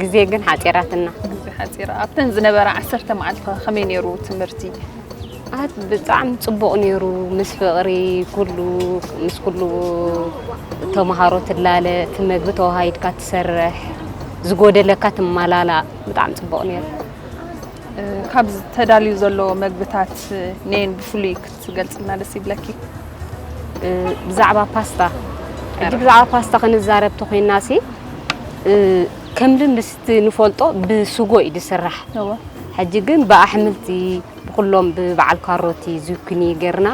ግዜ ግን ሓፂራትና ግዜ ሓፂራ ኣብተን ዝነበራ ዓሰርተ መዓልቲ ከመይ ነይሩ ትምህርቲ ኣት ብጣዕሚ ፅቡቕ ነይሩ ምስ ፍቕሪ ኩሉ ምስ ኩሉ ተምሃሮ ትላለ እቲ መግቢ ተዋሃይድካ ትሰርሕ ዝጎደለካ ትመላላእ ብጣዕሚ ፅቡቕ ነይሩ ካብ ተዳልዩ ዘሎ መግብታት ነየን ብፍሉይ ትገልጽልና ደስ ይብለኪ ብዛዕባ ፓስታ ሕጂ ብዛዕባ ፓስታ ክንዛረብ ተኮይና ሲ ከም ልምስ ንፈልጦ ብስጎ እዩ ዝስራሕ ሕጂ ግን ብኣሕምልቲ ብኩሎም ብበዓል ካሮቲ ዙኩኒ ጌርና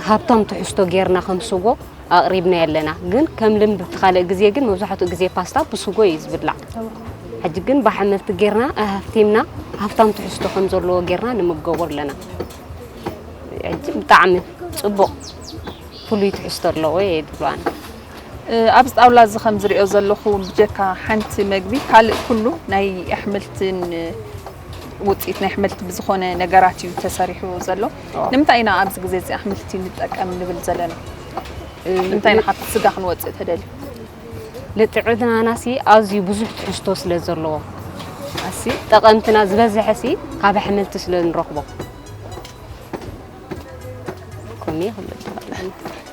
ሃብታም ትሕዝቶ ጌርና ከም ስጎ ኣቕሪብና ኣለና ግን ከም ልምድ ብቲ ካልእ ግዜ ግን መብዛሕትኡ ግዜ ፓስታ ብስጎ እዩ ዝብላዕ ሕጂ ግን ብኣሕምልቲ ጌርና ኣሃፍቲምና ሃብታም ትሕዝቶ ከም ዘለዎ ጌርና ንምገቦ ኣለና ብጣዕሚ ጽቡቕ ፍሉይ ትሕዝቶ ኣለዎ እየ ይብሉ ኣነ ኣብዚ ጣውላ እዚ ከም ዝሪኦ ዘለኹ ብጀካ ሓንቲ መግቢ ካልእ ኩሉ ናይ ኣሕምልትን ውፅኢት ናይ ኣሕምልቲ ብዝኾነ ነገራት እዩ ተሰሪሑ ዘሎ ንምንታይ ኢና ኣብዚ ግዜ እዚ ኣሕምልቲ ንጠቀም ንብል ዘለና እንታይ ንሓፍት ስጋ ክንወፅእ ተደልዩ ንጥዕናና ሲ ኣዝዩ ብዙሕ ትሕዝቶ ስለ ዘለዎ ኣሲ ጠቐምትና ዝበዝሐ ሲ ካብ ኣሕምልቲ ስለ ንረኽቦ ከምኡ ይኽልጥ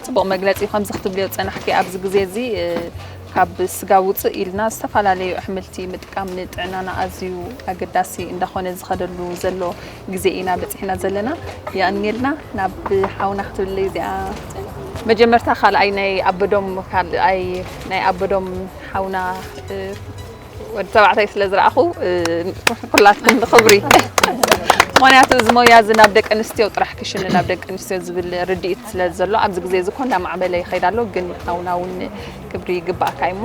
ፅቡቕ መግለፂ እዩ ከምዚ ክትብልዮ ፀናሕኪ ኣብዚ ግዜ እዚ ካብ ስጋ ውፅእ ኢልና ዝተፈላለዩ ኣሕምልቲ ምጥቃም ንጥዕናና ኣዝዩ ኣገዳሲ እንዳኾነ ዝኸደሉ ዘሎ ግዜ ኢና በጺሕና ዘለና የቀንየልና ናብ ሓውና ክትብለይ እዚኣ መጀመርታ ካልኣይ ናይ ኣበዶም ካልኣይ ናይ ኣበዶም ሓውና ወዲ ተባዕታይ ስለ ዝረኣኹ ኩላትን ንኽብሪ ምክንያቱ እዚ ሞያ እዚ ናብ ደቂ ኣንስትዮ ጥራሕ ክሽኒ ናብ ደቂ ኣንስትዮ ዝብል ርድኢት ስለ ዘሎ ኣብዚ ግዜ እዚ ኮ እናማዕበለ ይኸይድ ኣሎ ግን ሓውና እውን ክብሪ ይግባእካ እዩሞ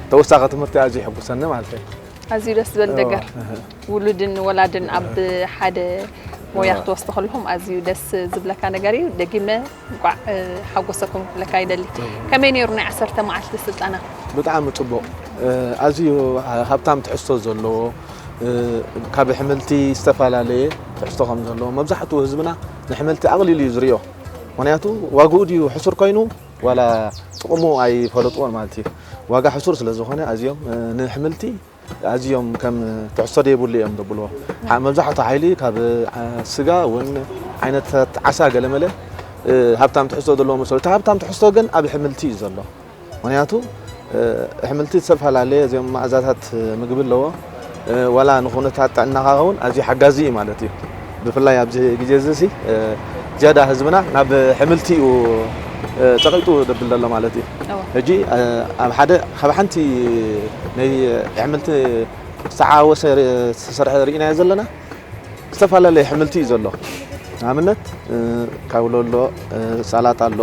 ተወሳኺ ትምህርቲ ኣዝዩ ይሕጉሰኒ ማለት እዩ። ኣዝዩ ደስ ዝበል ነገር ውሉድን ወላድን ኣብ ሓደ ሞያ ክትወስዱ ከለኹም ኣዝዩ ደስ ዝብለካ ነገር እዩ። ደጊመ እንቋዕ ሓጎሰኩም ክብለካ ይደሊ። ከመይ ነይሩ ናይ ዓሰርተ መዓልቲ ስልጠና? ብጣዕሚ ጽቡቕ፣ ኣዝዩ ሃብታም ትሕዝቶ ዘለዎ ካብ ኣሕምልቲ ዝተፈላለየ ትሕዝቶ ከም ዘለዎ መብዛሕትኡ ህዝብና ንሕምልቲ ኣቕሊሉ እዩ ዝሪኦ። ምክንያቱ ዋግኡ ድዩ ሕሱር ኮይኑ ዋላ ጥቕሙ ኣይፈለጥዎን ማለት እዩ። ዋጋ ሕሱር ስለ ዝኾነ ኣዝዮም ንሕምልቲ ኣዝዮም ከም ትሕዝቶ ዘይብሉ እዮም ዘብልዎ። መብዛሕትኡ ሓይሊ ካብ ስጋ ውን ዓይነታት ዓሳ ገለመለ ሃብታም ትሕዝቶ ዘለዎ መስሎ። እቲ ሃብታም ትሕዝቶ ግን ኣብ ሕምልቲ እዩ ዘሎ። ምክንያቱ ኣሕምልቲ ዝተፈላለየ እዚኦም መኣዛታት ምግቢ ኣለዎ ዋላ ንኹነታት ጥዕናኻ ውን ኣዝዩ ሓጋዚ እዩ ማለት እዩ ብፍላይ ኣብዚ ግዜ እዚ ሲ ዝያዳ ህዝብና ናብ ኣሕምልቲ እዩ ጸቂጡ ደብል ዘሎ ማለት እዩ ሕጂ ኣብ ሓደ ካብ ሓንቲ ናይ ኣሕምልቲ ዝተዓወሰ ዝተሰርሐ ርኢናዮ ዘለና ዝተፈላለየ ኣሕምልቲ እዩ ዘሎ ንኣብነት ካውሎ ኣሎ ሳላጣ ኣሎ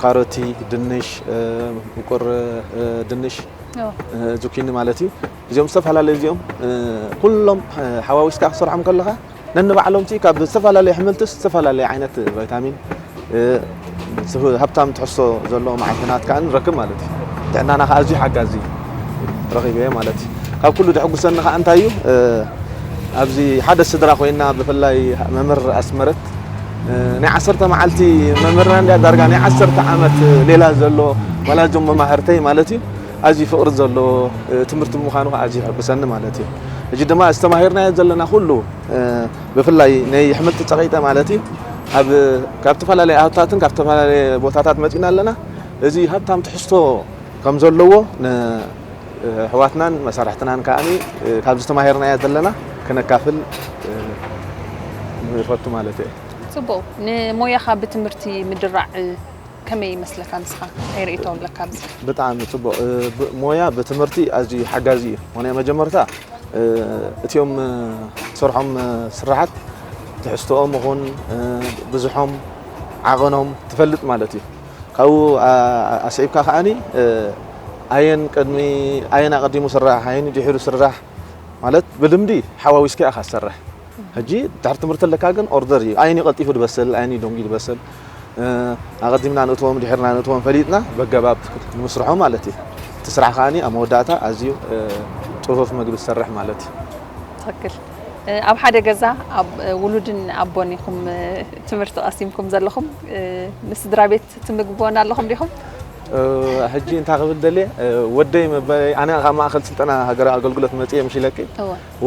ካሮቲ ድንሽ ምቁር ድንሽ ዙኪኒ ማለት እዩ እዚኦም ዝተፈላለዩ እዚኦም ኩሎም ሓዋዊስካ ክሰርሖም ከለኻ ነንባዕሎምቲ ካብ ዝተፈላለዩ ኣሕምልትስ ዝተፈላለዩ ዓይነት ቫይታሚን ሃብታም ትሕዝቶ ዘለዎ መዓድናት ከዓ ንረክብ ማለት እዩ ጥዕናና ከዓ ኣዝዩ ሓጋዚ ረኺበ ማለት እዩ ካብ ኩሉ ደሕጉሰኒ ከዓ እንታይ እዩ ኣብዚ ሓደ ስድራ ኮይና ብፍላይ መምህር ኣስመረት ናይ ዓሰርተ መዓልቲ መምህርና እንድያ ዳርጋ ናይ ዓሰርተ ዓመት ሌላ ዘሎ ዋላ እዞም መማህርተይ ማለት እዩ ኣዝዩ ፍቕሪ ዘለዎ ትምህርቲ ምዃኑ ከዓ ኣዝዩ ይሕጉሰኒ ማለት እዩ እጂ ድማ ዝተማሂርናዮ ዘለና ኩሉ ብፍላይ ናይ ኣሕምልቲ ፀቂጠ ማለት እዩ ኣብ ካብ ተፈላለየ ኣህታትን ካብ ተፈላለየ ቦታታት መፂና ኣለና እዚ ሃብታም ትሕዝቶ ከም ዘለዎ ኣሕዋትናን መሳርሕትናን ከኣ ካብዚ ተማሂርናዮ ዘለና ከነካፍል ንፈቱ ማለት እየ። ጽቡቕ ንሞያኻ ብትምህርቲ ምድራዕ ከመይ ይመስለካ ንስኻ እንታይ ርእይቶ ኣለካ ኣብዚ? ብጣዕሚ ጽቡቕ ሞያ ብትምህርቲ ኣዝዩ ሓጋዚ እዩ ምኽንያቱ መጀመርታ እትኦም ትሰርሖም ስራሓት ትሕዝትኦም ይኹን ብዝሖም ዓቐኖም ትፈልጥ ማለት እዩ። ካብኡ ኣስዒብካ ከኣ ኣየን ቅድሚ ኣየን ኣቐዲሙ ስራሕ ኣየን ድሒሩ ስራሕ ማለት ብልምዲ ሓዋዊስካ ኢኻ ትሰርሕ። ሕጂ ድሕሪ ትምህርቲ ኣለካ ግን ኦርደር እዩ ኣየን እዩ ቀልጢፉ ዝበስል ኣየን እዩ ደንጉዩ ዝበስል ኣቐዲምና ንእትዎም ድሒርና ንእትዎም ፈሊጥና በገባብ ንምስርሖም ማለት እዩ። እቲ ስራሕ ከኣ ኣብ መወዳእታ ኣዝዩ ጽፉፍ መግቢ ትሰርሕ ማለት እዩ። ትክክል ኣብ ሓደ ገዛ ውሉድን ኣቦን ኢኹም ትምህርቲ ቀሲምኩም ዘለኹም ምስ ስድራ ቤት ትምግብዎና ኣለኹም ዲኹም? ሕጂ እንታይ ክብል ደልየ ወደይ መበለይ ኣነ ካብ ማእከል ስልጠና ሃገራዊ ኣገልግሎት መጽየ ምሽለኪ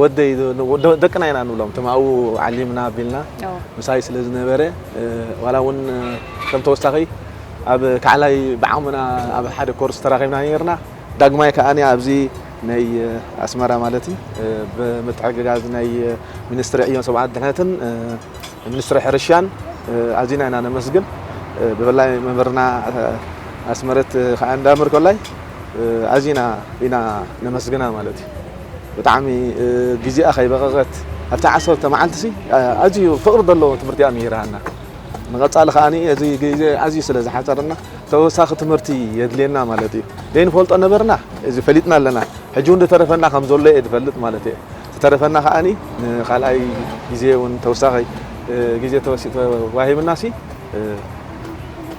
ወደይ ደቅና ኢና ንብሎም እቶም ኣብኡ ዓሊምና ኣቢልና ምሳይ ስለ ዝነበረ ዋላ እውን ከም ተወሳኺ ኣብ ካዕላይ ብዓቕምና ኣብ ሓደ ኮርስ ተራኺብና ነርና ዳግማይ ከዓ ኣብዚ ናይ ኣስመራ ማለት እዩ ብምትሕግጋዝ ናይ ሚኒስትሪ ዕዮን ሰብኣዊ ድሕነትን ንሚኒስትሪ ሕርሻን ኣዚና ኢና ነመስግን ብፍላይ መምህርና ኣስመረት ክኣ እንዳ ምርኮላይ ኣዚና ኢና ነመስግና ማለት እዩ ብጣዕሚ ግዜኣ ከይበቐቐት ኣብቲ ዓሰርተ መዓልቲሲ ኣዝዩ ፍቕሪ ዘለዎ ትምህርቲ እያ ምሂራና ንቐጻሊ ከኣ እዚ ግዜ ኣዝዩ ስለ ዝሓጸረና ተወሳኺ ትምህርቲ የድልየና ማለት እዩ ዘይንፈልጦ ነበርና እዚ ፈሊጥና ኣለና ሕጂ እውን ዝተረፈና ከም ዘሎ እየ ዝፈልጥ ማለት እየ ዝተረፈና ከኣ ንካልኣይ ግዜ ውን ተውሳኪ ግዜ ተዋሂብና ሲ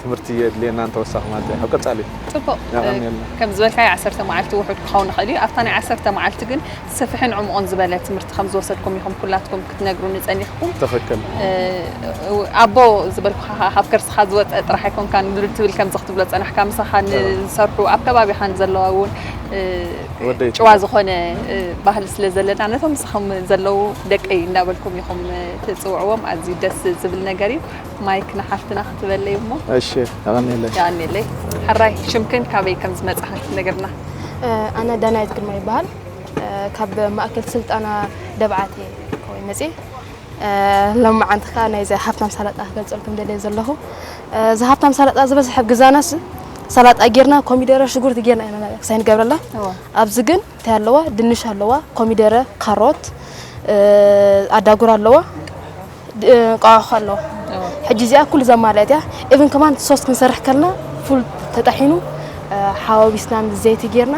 ትምህርቲ የድልየና ንተወሳኪ ማለት እያ ኣብ ቀጻሊ። ጽቡቅ የቀንየልና። ከም ዝበልካዮ ዓሰርተ መዓልቲ ውሑድ ክኸውን ይኽእል እዩ። ኣብታ ናይ ዓሰርተ መዓልቲ ግን ሰፊሕን ዕሙቕን ዝበለ ትምህርቲ ከም ዝወሰድኩም ኢኹም ኩላትኩም ክትነግሩኒ ጸኒሕኩም። ትኽክል። ኣቦ ዝበልኩኻ ከኣ ካብ ከርስኻ ዝወጸ ጥራሕ ኣይኮንካን ትብል ከምዚ ክትብሎ ዝጸናሕካ ምሳኻ ንዝሰርሑ ኣብ ከባቢኻ ንዘለዋ ውን ጭዋ ዝኾነ ባህሊ ስለ ዘለና ነቶም ምሳኹም ዘለዉ ደቀይ እንዳበልኩም ኢኹም ትጽውዕዎም ኣዝዩ ደስ ዝብል ነገር እዩ ማይክ ንሓፍትና ክትበለይ እሞ እሺ ኣቐኒለይ የቐኒለይ ሕራይ ሽምክን ካበይ ከም ዝመጻኺ ክትነግርና ኣነ ዳናይት ግርማ ይበሃል ካብ ማእከል ስልጠና ደብዓት እየ መጽየ ሎምዓንቲ ከኣ ናይዚ ሃፍታም ሳላጣ ክገልጸልኩም ደልየ ዘለኹ እዚ ሃፍታም ሳላጣ ዝበዝሐ ኣብ ግዛናስ ሰላጣ ጌርና ኮሚደረ ሽጉርቲ ጌርና ኢና ክሳይ ንገብረላ ኣብዚ ግን እንታይ ኣለዋ ድንሽ ኣለዋ ኮሚደረ ካሮት ኣዳጉር ኣለዋ ቋዕኹ ኣለዋ ሕጂ እዚኣ ኩሉ ዘማልአት እያ ኢቭን ከማን ሶስት ክንሰርሕ ከለና ፉል ተጠሒኑ ሓዋዊስና ምስ ዘይቲ ጌርና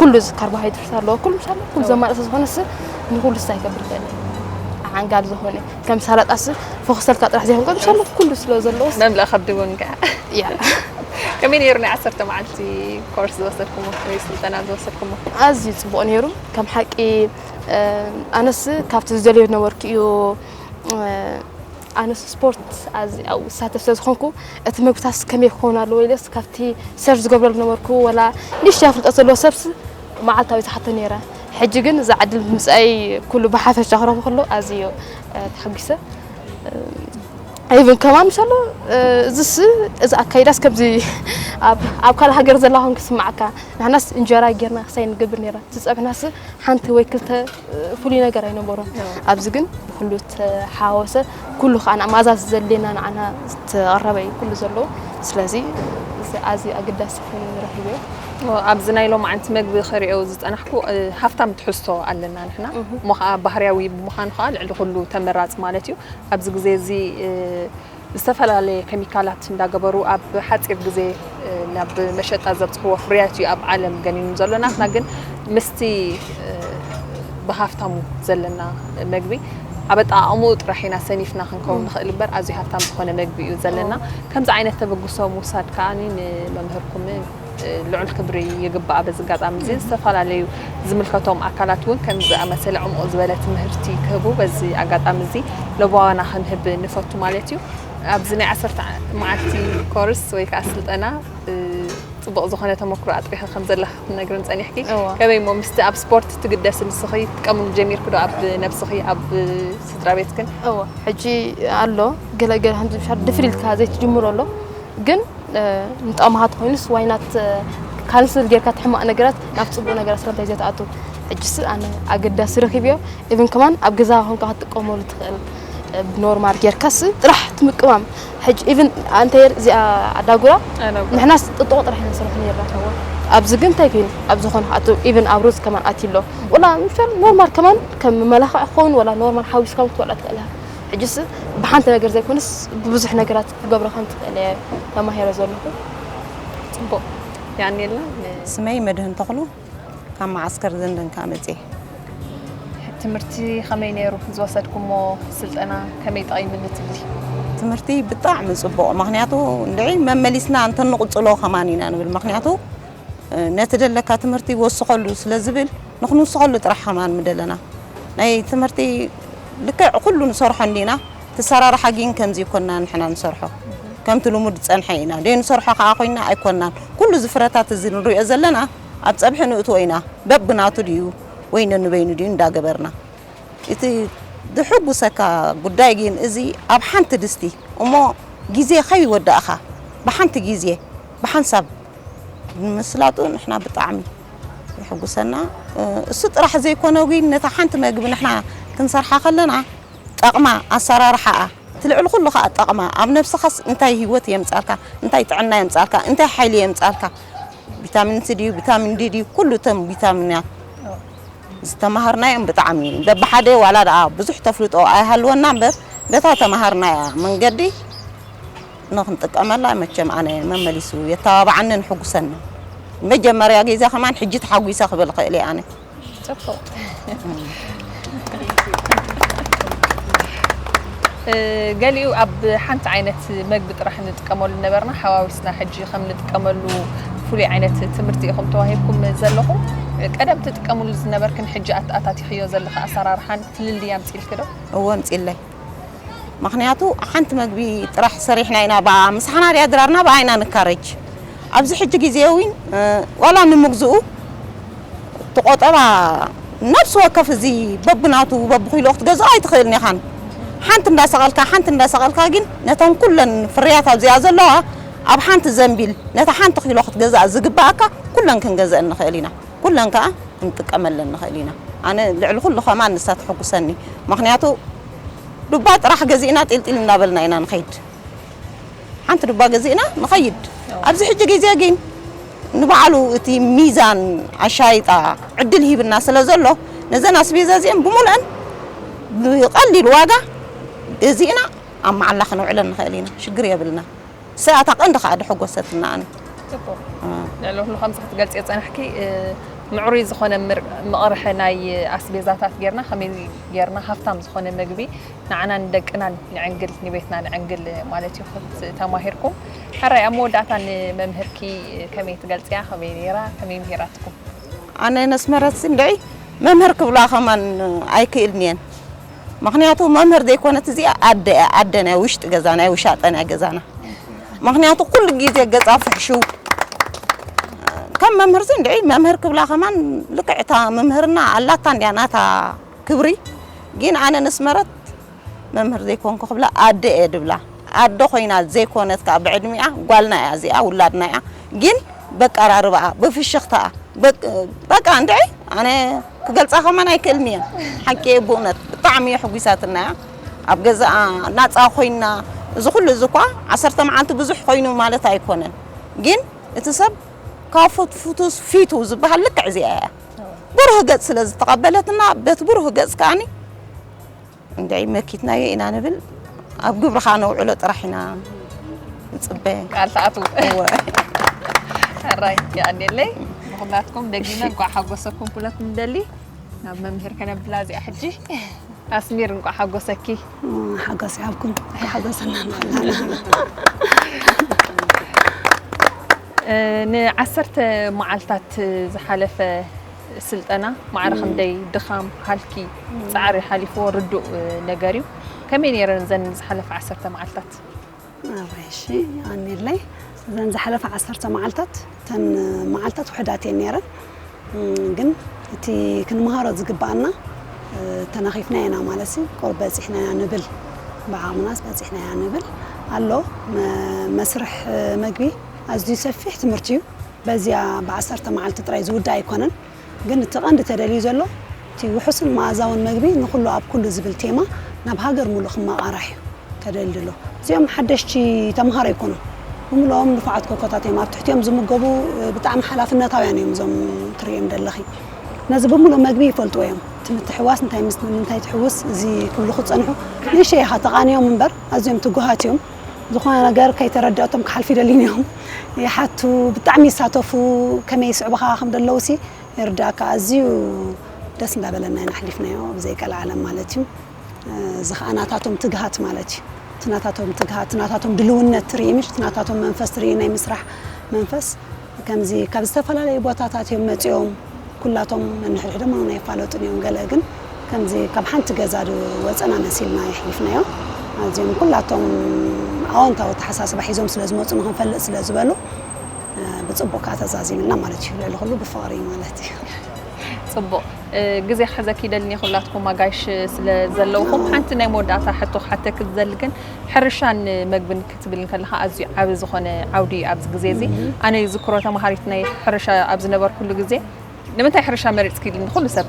ኩሉ እዚ ካርቦሃይድሬት ኣለዎ ኩሉ ምስ ኣለዎ ኩሉ ዘማልእ ስለዝኾነ ስ ንኩሉ ስታይ ክገብር ይኽእል እዩ ዓንጋል ዝኾነ ከም ሰላጣ ስ ፎክሰልካ ጥራሕ ዘይኮንካ ምስ ኣለዎ ኩሉ ስለ ዘለዎ መምለእ ከብዲ እውን ከዓ ያ ከመይ ነይሩ ናይ ዓሰርተ መዓልቲ ኮርስ ዝወሰድኩሞ ወይ ስልጠና ዝወሰድኩሞ ኣዝዩ ፅቡቅ ነይሩ ከም ሓቂ ኣነስ ካብቲ ዝደልዮ ነበርኩ እዩ ኣነስ ስፖርት ኣዚ ኣብኡ ዝሳተፍ ስለ ዝኾንኩ እቲ ምግብታትስ ከመይ ክኸውን ኣለዎ ኢለስ ካብቲ ሰርች ዝገብረሉ ዝነበርኩ ወላ ንእሽተይ ኣፍልጦት ዘለዎ ሰብስ መዓልታዊ ዝሓቶ ነይረ ሕጂ ግን እዛ ዕድል ብምምፅኣይ ኩሉ ብሓፈሻ ክረኽቦ ከሎ ኣዝዩ ተሓጒሰ ኢቭን ከማን ምሻሎ እዚስ እዚ ኣካይዳስ ከምዚ ኣብ ካልእ ሃገር ዘላ ኮንክ ስማዓካ ንሕናስ እንጀራ ጌርና ክሳይ ንገብር ነይራ ዝፀብሕናስ ሓንቲ ወይ ክልተ ፍሉይ ነገር ኣይነበሮን ኣብዚ ግን ብኩሉ ተሓዋወሰ ኩሉ ከዓ ንመኣዛ ዘድልየና ንዓና ዝተቐረበ እዩ ኩሉ ዘለዎ ስለዚ ኣዝዩ ኣገዳሲ ኮይኑ ንረኺብዮ ኣብዚ ናይ ሎማዓንቲ መግቢ ክሪኦ ዝፀናሕኩ ሃፍታም ትሕዝቶ ኣለና ንሕና እሞ ከዓ ባህርያዊ ብምዃኑ ከዓ ልዕሊ ኩሉ ተመራፂ ማለት እዩ ኣብዚ ግዜ እዚ ዝተፈላለየ ኬሚካላት እንዳገበሩ ኣብ ሓፂር ግዜ ናብ መሸጣ ዘብፅሕዎ ፍርያት እዩ ኣብ ዓለም ገኒኑ ዘሎ። ናትና ግን ምስቲ ብሃፍታሙ ዘለና መግቢ ኣብ ኣጠቓቕምኡ ጥራሕ ኢና ሰኒፍና ክንከውን ንኽእል እምበር ኣዝዩ ሃፍታም ዝኾነ መግቢ እዩ ዘለና። ከምዚ ዓይነት ተበግሶ ምውሳድ ከኣ ንመምህርኩምን ልዑል ክብሪ ይግባኣ። በዚ ኣጋጣሚ እዚ ዝተፈላለዩ ዝምልከቶም ኣካላት እውን ከምዚ ዝኣመሰለ ዕሙቕ ዝበለ ትምህርቲ ክህቡ በዚ ኣጋጣሚ እዚ ለበዋና ክንህብ ንፈቱ ማለት እዩ። ኣብዚ ናይ ዓሰርተ መዓልቲ ኮርስ ወይ ከዓ ስልጠና ፅቡቕ ዝኾነ ተመክሮ ኣጥሪኺ ከም ዘለኺ ክትነግርን ፀኒሕኪ ከመይ እሞ ምስቲ ኣብ ስፖርት ትግደሲ ንስኺ ትጥቀምሉ ጀሚርኪ ዶ ኣብ ነብስኺ ኣብ ስድራ ቤትክን? ሕጂ ኣሎ ገለገለ ከምዚ ድፍር ኢልካ ዘይትጅምሮ ኣሎ ግን ምጥቕምካ ተኾይኑስ ዋይ ናት ካንስል ጌርካ እቲ ሕማቕ ነገራት ናብ ፅቡቕ ነገራት ስለምንታይ ዘይትኣቱ ሕጅስ ኣነ ኣገዳሲ ረኺብዮ ኢብን ከማን ኣብ ገዛኻ ኮንካ ክትጥቀመሉ ትኽእል ብኖርማል ጌርካስ ጥራሕ ትምቅማም ሕጂ ኢብን ኣንተ እዚኣ ኣዳጉራ ንሕናስ ጥጥቆ ጥራሕ ኢና ንሰርሖ ነርና ኣብዚ ግን እንታይ ኮይኑ ኣብ ዝኾነ ኣቶ ኢብን ኣብ ሩዝ ከማን ኣትዩ ኣሎ ወላ ምፍር ኖርማል ከማን ከም መመላኽዒ ክኸውን ወላ ኖርማል ሓዊስካ ክትበልዖ ትኽእል ኢኻ ሕጂስ ብሓንቲ ነገር ዘይኮነስ ብብዙሕ ነገራት ክገብሮ ከም ዝክእል እየ ተማሂረ ዘለኩ ፅቡቅ የቀንየልና። ስመይ መድህን ተኽሉ ካብ መዓስከር ዘንደን ከኣ መጽየ። ትምህርቲ ከመይ ነይሩ ዝወሰድኩሞ ስልጠና ከመይ ጠቂምኒ ትብሊ? ትምህርቲ ብጣዕሚ ጽቡቕ ምክንያቱ እንድዒ መመሊስና እንተ ንቕጽሎ ከማን ኢና ንብል ምክንያቱ ነቲ ደለካ ትምህርቲ ወስኸሉ ስለ ዝብል ንክንውስኸሉ ጥራሕ ከማን ምደለና ናይ ትምህርቲ ልክዕ ኩሉ ንሰርሖ እንዲና ትሰራርሓ ጊን ከምዚ ይኮና ንሕና ንሰርሖ ከምቲ ልሙድ ዝጸንሐ ኢና ደይ ንሰርሖ ከኣ ኮይና ኣይኮናን ኩሉ እዚ ፍረታት እዚ ንሪኦ ዘለና ኣብ ጸብሒ ንእትዎ ኢና በብናቱ ድዩ ወይ ነንበይኑ ድዩ እንዳ ገበርና እቲ ድሕጉሰካ ጉዳይ ጊን እዚ ኣብ ሓንቲ ድስቲ እሞ ጊዜ ከይ ወዳእካ ብሓንቲ ጊዜ ብሓንሳብ ንምስላጡ ንሕና ብጣዕሚ የሕጉሰና እሱ ጥራሕ ዘይኮነ ጊን ነታ ሓንቲ መግቢ ንሕና ክንሰርሓ ከለና ጠቕማ፣ ኣሰራርሓኣ፣ እቲ ልዕሊ ኩሉ ከኣ ጠቕማ፣ ኣብ ነብስኻስ እንታይ ሂወት የምጻልካ፣ እንታይ ጥዕና የምጻልካ፣ እንታይ ሓይሊ የምጻልካ፣ ቢታሚን ሲ ድዩ ቢታሚን ዲ ድዩ ኩሉ እቶም ቢታሚናት ዝተማሃርናዮም ብጣዕሚ በብሓደ ዋላ ደኣ ብዙሕ ተፍልጦ ኣይሃልወና እምበር በታ ተማሃርናያ መንገዲ ንኽንጥቀመላ መቸም ኣነ መመሊሱ የተባብዓንን ሕጉሰንን። ንመጀመርያ ግዜ ከማን ሕጂ ተሓጒሰ ክብል እኽእል እየ ኣነ። ፅቡቅ ገሊኡ ኣብ ሓንቲ ዓይነት መግቢ ጥራሕ ንጥቀመሉ ነበርና ሓዋዊስና ሕጂ ከም ንጥቀመሉ ፍሉይ ዓይነት ትምህርቲ ኢኹም ተዋሂብኩም ዘለኹም ቀደም ትጥቀምሉ ዝነበርክን ሕጂ ኣታቲኽዮ ዘለኺ ኣሰራርሓን ፍልልይ ኣምፅልኪ ዶ? እዎ ኣምፅለይ ምኽንያቱ ሓንቲ መግቢ ጥራሕ ሰሪሕና ኢና ብኣኣ ምሳሕና ድያ ድራርና ብኣኣ ኢና ንካረጅ ኣብዚ ሕጂ ግዜ ዊን ዋላ ንምግዝኡ እቲ ቆጠባ ነብሲ ወከፍ እዚ በብናቱ በብኺሎ ክትገዝኦ ኣይትኽእልን ኢኻን ሓንቲ እንዳሰቐልካ ሓንቲ እንዳሰቐልካ ግን ነተን ኩለን ፍርያት ኣብዚኣ ዘለዋ ኣብ ሓንቲ ዘንቢል ነታ ሓንቲ ኺሎ ክትገዝኣ ዝግብኣካ ኩለን ክንገዝኣን ንኽእል ኢና። ኩለን ከኣ ክንጥቀመለን ንኽእል ኢና። ኣነ ልዕሊ ኩሉ ከማን ንሳ ተሕጉሰኒ ምኽንያቱ ዱባ ጥራሕ ገዚእና ጢልጢል እንዳበልና ኢና ንኸይድ ሓንቲ ዱባ ገዚእና ንኸይድ ኣብዚ ሕጂ ግዜ ግን ንባዕሉ እቲ ሚዛን ኣሻይጣ ዕድል ሂብና ስለ ዘሎ ነዘን ኣስቤዛ እዚኤን ብሙሉኤን ብቐሊል ዋጋ ገዚእና ኣብ መዓላ ክነውዕለን ንኽእል ኢና ሽግር የብልና። ሰያ እታ ቀንዲ ከኣ ደሐጎሰትና ኣነ። ጽቡቕ ልዕሊ ኩሉ ከምዚ ክትገልጽዮ ዝጸናሕኪ ምዕሩይ ዝኾነ መቕርሒ ናይ ኣስቤዛታት ጌርና ከመይ ጌርና ሃፍታም ዝኾነ ምግቢ ንዓና ንደቅናን ንዕንግል ንቤትና ንዕንግል ማለት እዩ ክት ተማሂርኩም ሕራይ ኣብ መወዳእታ ንመምህርኪ ከመይ ትገልጽያ ከመይ ኔራ ከመይ ምሂራትኩም ኣነ ነስመረትሲ እንድዒ መምህር ክብላ ከማን ኣይክእልንየን ምክንያቱ መምህር ዘይኮነት እዚኣ ኣደ እያ ኣደ ናይ ውሽጢ ገዛ ናይ ውሻጠ ናይ ገዛና ምክንያቱ ኩሉ ግዜ ገፃ ፍሕሽው ከም መምህር ሲ እንድዒ መምህር ክብላ ከማን ልክዕ እታ መምህርና ኣላታ እንዲያ ናታ ክብሪ ግን ኣነ ንስመረት መምህር ዘይኮንኩ ክብላ ኣደ እየ ድብላ ኣዶ ኮይና ዘይኮነት ከኣ ብዕድሚኣ ጓልና እያ እዚኣ ውላድና እያ ጊን በቃራርባኣ ብፍሽኽታኣ በቅ በቃ እንድዒ ኣነ ክገልጻ ከማን ኣይክእልን እየ ሓቂ እየ ብእውነት ብጣዕሚ የሕጒሳትና እያ ኣብ ገዛኣ ናጻ ኮይና እዚ ኩሉ እዚ እኳ ዓሰርተ መዓልቲ ብዙሕ ኮይኑ ማለት ኣይኮነን ጊን እቲ ሰብ ካብ ፍቱስ ፊቱ ዝበሃል ልክዕ እዚኣ እያ ብሩህ ገጽ ስለ ዝተቐበለትና በቲ ብሩህ ገጽ ከኣኒ ክንደይ መኪትናዮ ኢና ንብል ኣብ ግብሪ ከኣ ነውዕሎ ጥራሕ ኢና ንጽበ። ቃል ትኣትዉ እወ ሕራይ የቀኔለይ ንኹላትኩም ደጊመ እንቋዕ ሓጎሰኩም ኩለት ንደሊ ናብ መምህር ከነብላ እዚኣ ሕጂ ኣስሚር እንቋዕ ሓጎሰኪ ሓጎስ ይሃብኩም ሓጎሰና ንዓሰርተ መዓልታት ዝሓለፈ ስልጠና ማዕረ ክንደይ ድኻም፣ ሃልኪ፣ ጻዕሪ ሓሊፍዎ ርዱእ ነገር እዩ። ከመይ ነይረን እዘን ዝሓለፋ ዓሰርተ መዓልታት? እዋይ እሺ ኣኔለይ እዘን ዝሓለፋ ዓሰርተ መዓልታት እተን መዓልታት ውሕዳት እየን ነይረን ግን እቲ ክንመሃሮ ዝግባኣና ተናኺፍናዮ ኢና ማለት እዩ ቁሩብ በጺሕናያ ንብል ብዓቕምናስ በጺሕናያ ንብል ኣሎ መስርሕ መግቢ ኣዝዩ ሰፊሕ ትምህርቲ እዩ በዚኣ ብዓሰርተ መዓልቲ ጥራይ ዝውዳእ ኣይኮነን፣ ግን እቲ ቀንዲ ተደልዩ ዘሎ እቲ ውሑስን መኣዛውን መግቢ ንኹሉ ኣብ ኩሉ ዝብል ቴማ ናብ ሃገር ሙሉእ ክመቓራሕ እዩ ተደልዩ ዘሎ። እዚኦም ሓደሽቲ ተምሃሮ ኣይኮኑን፣ ብምሉኦም ንፉዓት ኮኮታት እዮም፣ ኣብ ትሕቲኦም ዝምገቡ ብጣዕሚ ሓላፍነታውያን እዮም እዞም ትርእዮም ደለኺ፣ ነዚ ብምሉእ መግቢ ይፈልጥዎ እዮም፣ እቲ ምትሕውዋስ እንታይ ምስ ምንታይ ትሕውስ እዚ ክብሉ ክጸንሑ ንእሽተይ ኢኻ ተቓንዮም እምበር ኣዝዮም ትጉሃት እዮም። ዝኾነ ነገር ከይተረደኣቶም ክሓልፉ ይደልዩን እዮም ይሓቱ ብጣዕሚ ይሳተፉ ከመይ ይስዕቡኻ ከም ዘለዉ ሲ ይርዳእካ ኣዝዩ ደስ እንዳበለና ኢና ኣሕሊፍናዮ ብዘይ ቀልዓለም ማለት እዩ እዚ ከዓ ናታቶም ትግሃት ማለት እዩ እቲ ናታቶም ትግሃት እቲ ናታቶም ድልውነት ትርኢ ምሽ እቲ ናታቶም መንፈስ ትርኢ ናይ ምስራሕ መንፈስ ከምዚ ካብ ዝተፈላለዩ ቦታታት እዮም መጺኦም ኩላቶም ነንሕድሕዶም እውን ኣይፋለጡን እዮም ገለ ግን ከምዚ ካብ ሓንቲ ገዛ ዶ ወጸና መሲልና የሕሊፍናዮ ኣዚኦም ኩላቶም ኣወንታዊ ኣተሓሳስባ ሒዞም ስለ ዝመጹ ንኽንፈልጥ ስለ ዝበሉ ብጽቡቅ ከኣ ተዛዚምልና ማለት እዩ ልዕሊ ኩሉ ብፍቅሪ ማለት እዩ ጽቡቅ ግዜ ክሕዘኪ ይደልኒ ኩላትኩም ኣጋይሽ ስለ ዘለውኹም ሓንቲ ናይ መወዳእታ ሕቶ ክሓተኪ ዝደሊ ግን ሕርሻን መግብን ክትብል እንከለኻ ኣዝዩ ዓቢ ዝኾነ ዓውዲ እዩ ኣብዚ ግዜ እዚ ኣነ ይዝክሮ ተማሃሪት ናይ ሕርሻ ኣብ ዝነበርኩሉ ግዜ ንምንታይ ሕርሻ መሪጽኪ ኢሉኒ ኩሉ ሰብ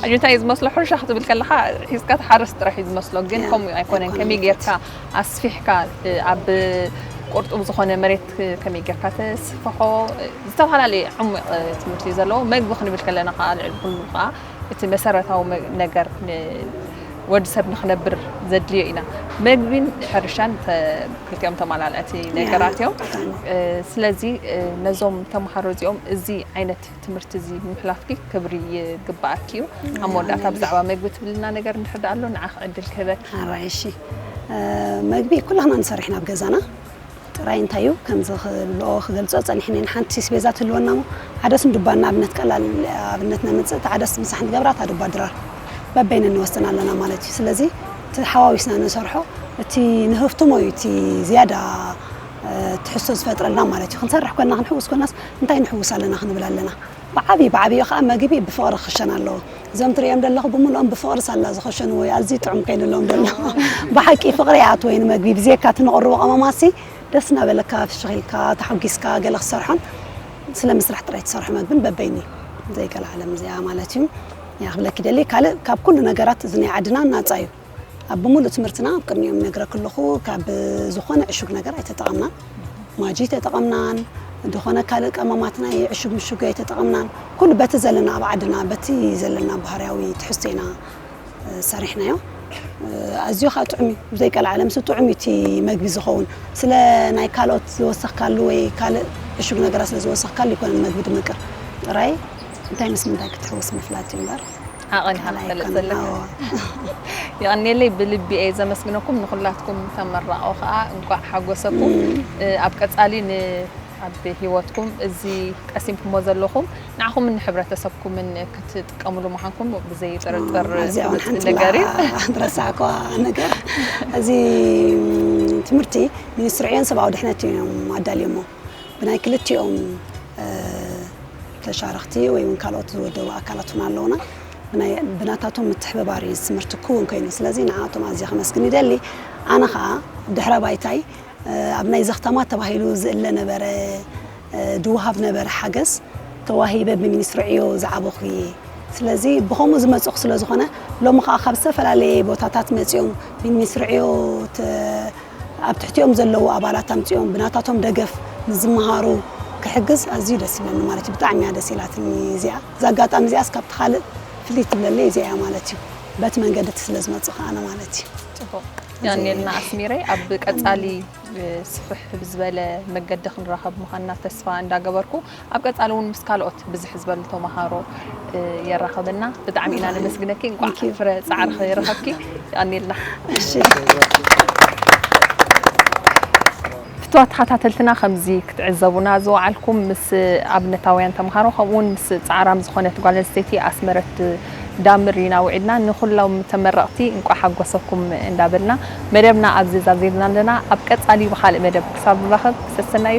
እንታይ እዩ ዝመስሎ ሕርሻ ክትብል ከለካ ሒዝካ ትሓርስ ጥራሕ እዩ ዝመስሎ ግን ከምኡ ኣይኮነን ከመይ ጌርካ ኣስፊሕካ ኣብ ቁርጡብ ዝኾነ መሬት ከመይ ጌርካ ተስፍሖ ዝተፈላለየ ዕሙቕ ትምህርቲ እዩ ዘለዎ መግቢ ክንብል ከለና ከዓ ልዕሊ ኩሉ ከዓ እቲ መሰረታዊ ነገር ወድሰብ ንክነብር ዘድልዮ ኢና መግቢን ሕርሻን ክልቲኦም ተማላልዕቲ ነገራት እዮም ስለዚ ነዞም ተምሃሮ እዚኦም እዚ ዓይነት ትምህርቲ እዚ ምሕላፍኪ ክብሪ ይግባኣኪ እዩ ኣብ መወዳእታ ብዛዕባ መግቢ ትብልና ነገር እንድሕር ኣሎ ንዓኺ ዕድል ክህበኪ መግቢ ኩላህና ንሰርሕ ናብ ገዛና ጥራይ እንታይ እዩ ከምዚ ክብልኦ ክገልጾ ጸኒሕኒ ንሓንቲ ስቤዛ ትህልወና እሞ ዓደስ ንዱባ ንኣብነት ቀላል ኣብነት ነምጽእ እታ ዓደስ ምሳሕ ንገብራ እታ ዱባ ድራር በበይነን ንወስን ኣለና ማለት እዩ ስለዚ እቲ ሓዋዊስና ንሰርሖ እቲ ንህፍትሞ እዩ እቲ ዝያዳ ትሕዝቶ ዝፈጥረልና ማለት እዩ ክንሰርሕ ኮና ክንሕውስ ኮናስ እንታይ ንሕውስ ኣለና ክንብል ኣለና ብዓብይ ብዓብዮ ከዓ መግቢ ብፍቕሪ ክኽሸን ኣለዎ እዞም ትርእዮም ደለኹ ብምልኦም ብፍቕሪ ሳላ ዝኸሸንዎ እዩ ኣዝዩ ጥዑም ከይንሎም ደሎ ብሓቂ ፍቕሪ ይኣትዎ እዩ ንመግቢ ብዘየካ እቲ ንቕርቦ ቀመማሲ ደስ እናበለካ ፍሽኽ ኢልካ ተሓጒስካ ገለ ክትሰርሖን ስለ ምስራሕ ጥራይ ትሰርሖ መግብን በበይኑ እዩ ዘይገለ ዓለም እዚኣ ማለት እዩ ክብለኪ ደሊ ካልእ ካብ ኩሉ ነገራት እዚ ናይ ዓድና ናጻ እዩ ኣብ ብምሉእ ትምህርትና ኣብ ቅድሚኦም ነግረ ክለኹ ካብ ዝኾነ ዕሹግ ነገር ኣይተጠቐምናን ማጂ ተጠቐምናን ዝኾነ ካልእ ቀመማት ናይ ዕሹግ ምሹግ ኣይተጠቐምናን ኩሉ በቲ ዘለና ኣብ ዓድና በቲ ዘለና ባህርያዊ ትሕዝቶ ኢና ሰሪሕናዮ ኣዝዮ ከዓ ጥዑም እዩ ብዘይቀልዓለ ምስ ጥዑም እዩ እቲ መግቢ ዝኸውን ስለ ናይ ካልኦት ዝወሰኽካሉ ወይ ካልእ ዕሹግ ነገራት ስለ ዝወሰኽካሉ ይኮነን መግቢ ድምቅር ጥራይ እንታይ ምስ ምንታይ ክትሕውስ ምፍላጥ እዩ እምበር ዓቐን ኢኻ ትፈልጥ ዘለካ። የቐንየለይ ብልቢ እየ ዘመስግነኩም ንኹላትኩም ተመራቖ ከኣ እንቋዕ ሓጎሰኩም። ኣብ ቀጻሊ ን ኣብ ሂወትኩም እዚ ቀሲምኩሞ ዘለኹም ንዓኹምን ንሕብረተሰብኩምን ክትጥቀምሉ ምዃንኩም ብዘይ ጥርጥር ኣዚኣ ውን ፍሉጥ ሓንቲ ነገር እዩ። ላ ዝረሳዕክዋ ነገር እዚ ትምህርቲ ሚኒስትሪ ዕዮን ሰብኣዊ ድሕነት እዮም ኣዳልዮሞ። ብናይ ክልቲኦም ተሻረኽቲ ወይ እውን ካልኦት ዝወደቡ ኣካላት እውን ኣለውና ብናታቶም ምትሕብባር እዩ ትምህርቲ ክውን ኮይኑ ስለዚ ንዓቶም ኣዝየ ከመስግን ይደሊ ኣነ ከዓ ድሕረ ባይታይ ኣብ ናይ ዘኽታማት ተባሂሉ ዝእለ ነበረ ድውሃብ ነበረ ሓገዝ ተዋሂበ ብሚኒስትሪ ዕዮ ዝዓበኹ እየ ስለዚ ብከምኡ ዝመፅኹ ስለ ዝኾነ ሎሚ ከዓ ካብ ዝተፈላለየ ቦታታት መፂኦም ብሚኒስትሪ ዕዮ ኣብ ትሕቲኦም ዘለዉ ኣባላት ኣምጺኦም ብናታቶም ደገፍ ንዝመሃሩ ክሕግዝ ኣዝዩ ደስ ይብለኒ ማለት እዩ ብጣዕሚ እያ ደስ ኢላትኒ እዚኣ እዛ ኣጋጣሚ እዚኣስ ካብቲ ካልእ ፍልይ ትብለለይ እዚኣ እያ ማለት እዩ በቲ መንገዲ እቲ ስለ ዝመጽእ ከዓ ኣነ ማለት እዩ ጽቡቅ ያኔልና ኣስሚረይ ኣብ ቀጻሊ ብስፍሕ ብዝበለ መገዲ ክንራኸብ ምዃንና ተስፋ እንዳገበርኩ ኣብ ቀጻሊ ውን ምስ ካልኦት ብዝሕ ዝበሉ ተማሃሮ የራኽበና ብጣዕሚ ኢና ነመስግነኪ እንቋዕ ፍረ ጻዕርኺ ረኸብኪ የቀንየልና። ፍትዋት ተኸታተልትና ከምዚ ክትዕዘቡና ዝወዓልኩም ምስ ኣብነታውያን ተምሃሮ ከምኡ ውን ምስ ጻዕራም ዝኾነት ጓል ኣንስተይቲ ኣስመረት ዳምር ኢና ውዒልና ንኹሎም ተመረቕቲ እንቋዕ ሓጎሰኩም እንዳበልና መደብና ኣብዚ ዛዚምና ኣለና ኣብ ቀጻሊ ብኻልእ መደብ ክሳብ ንራኸብ ሰሰናዩ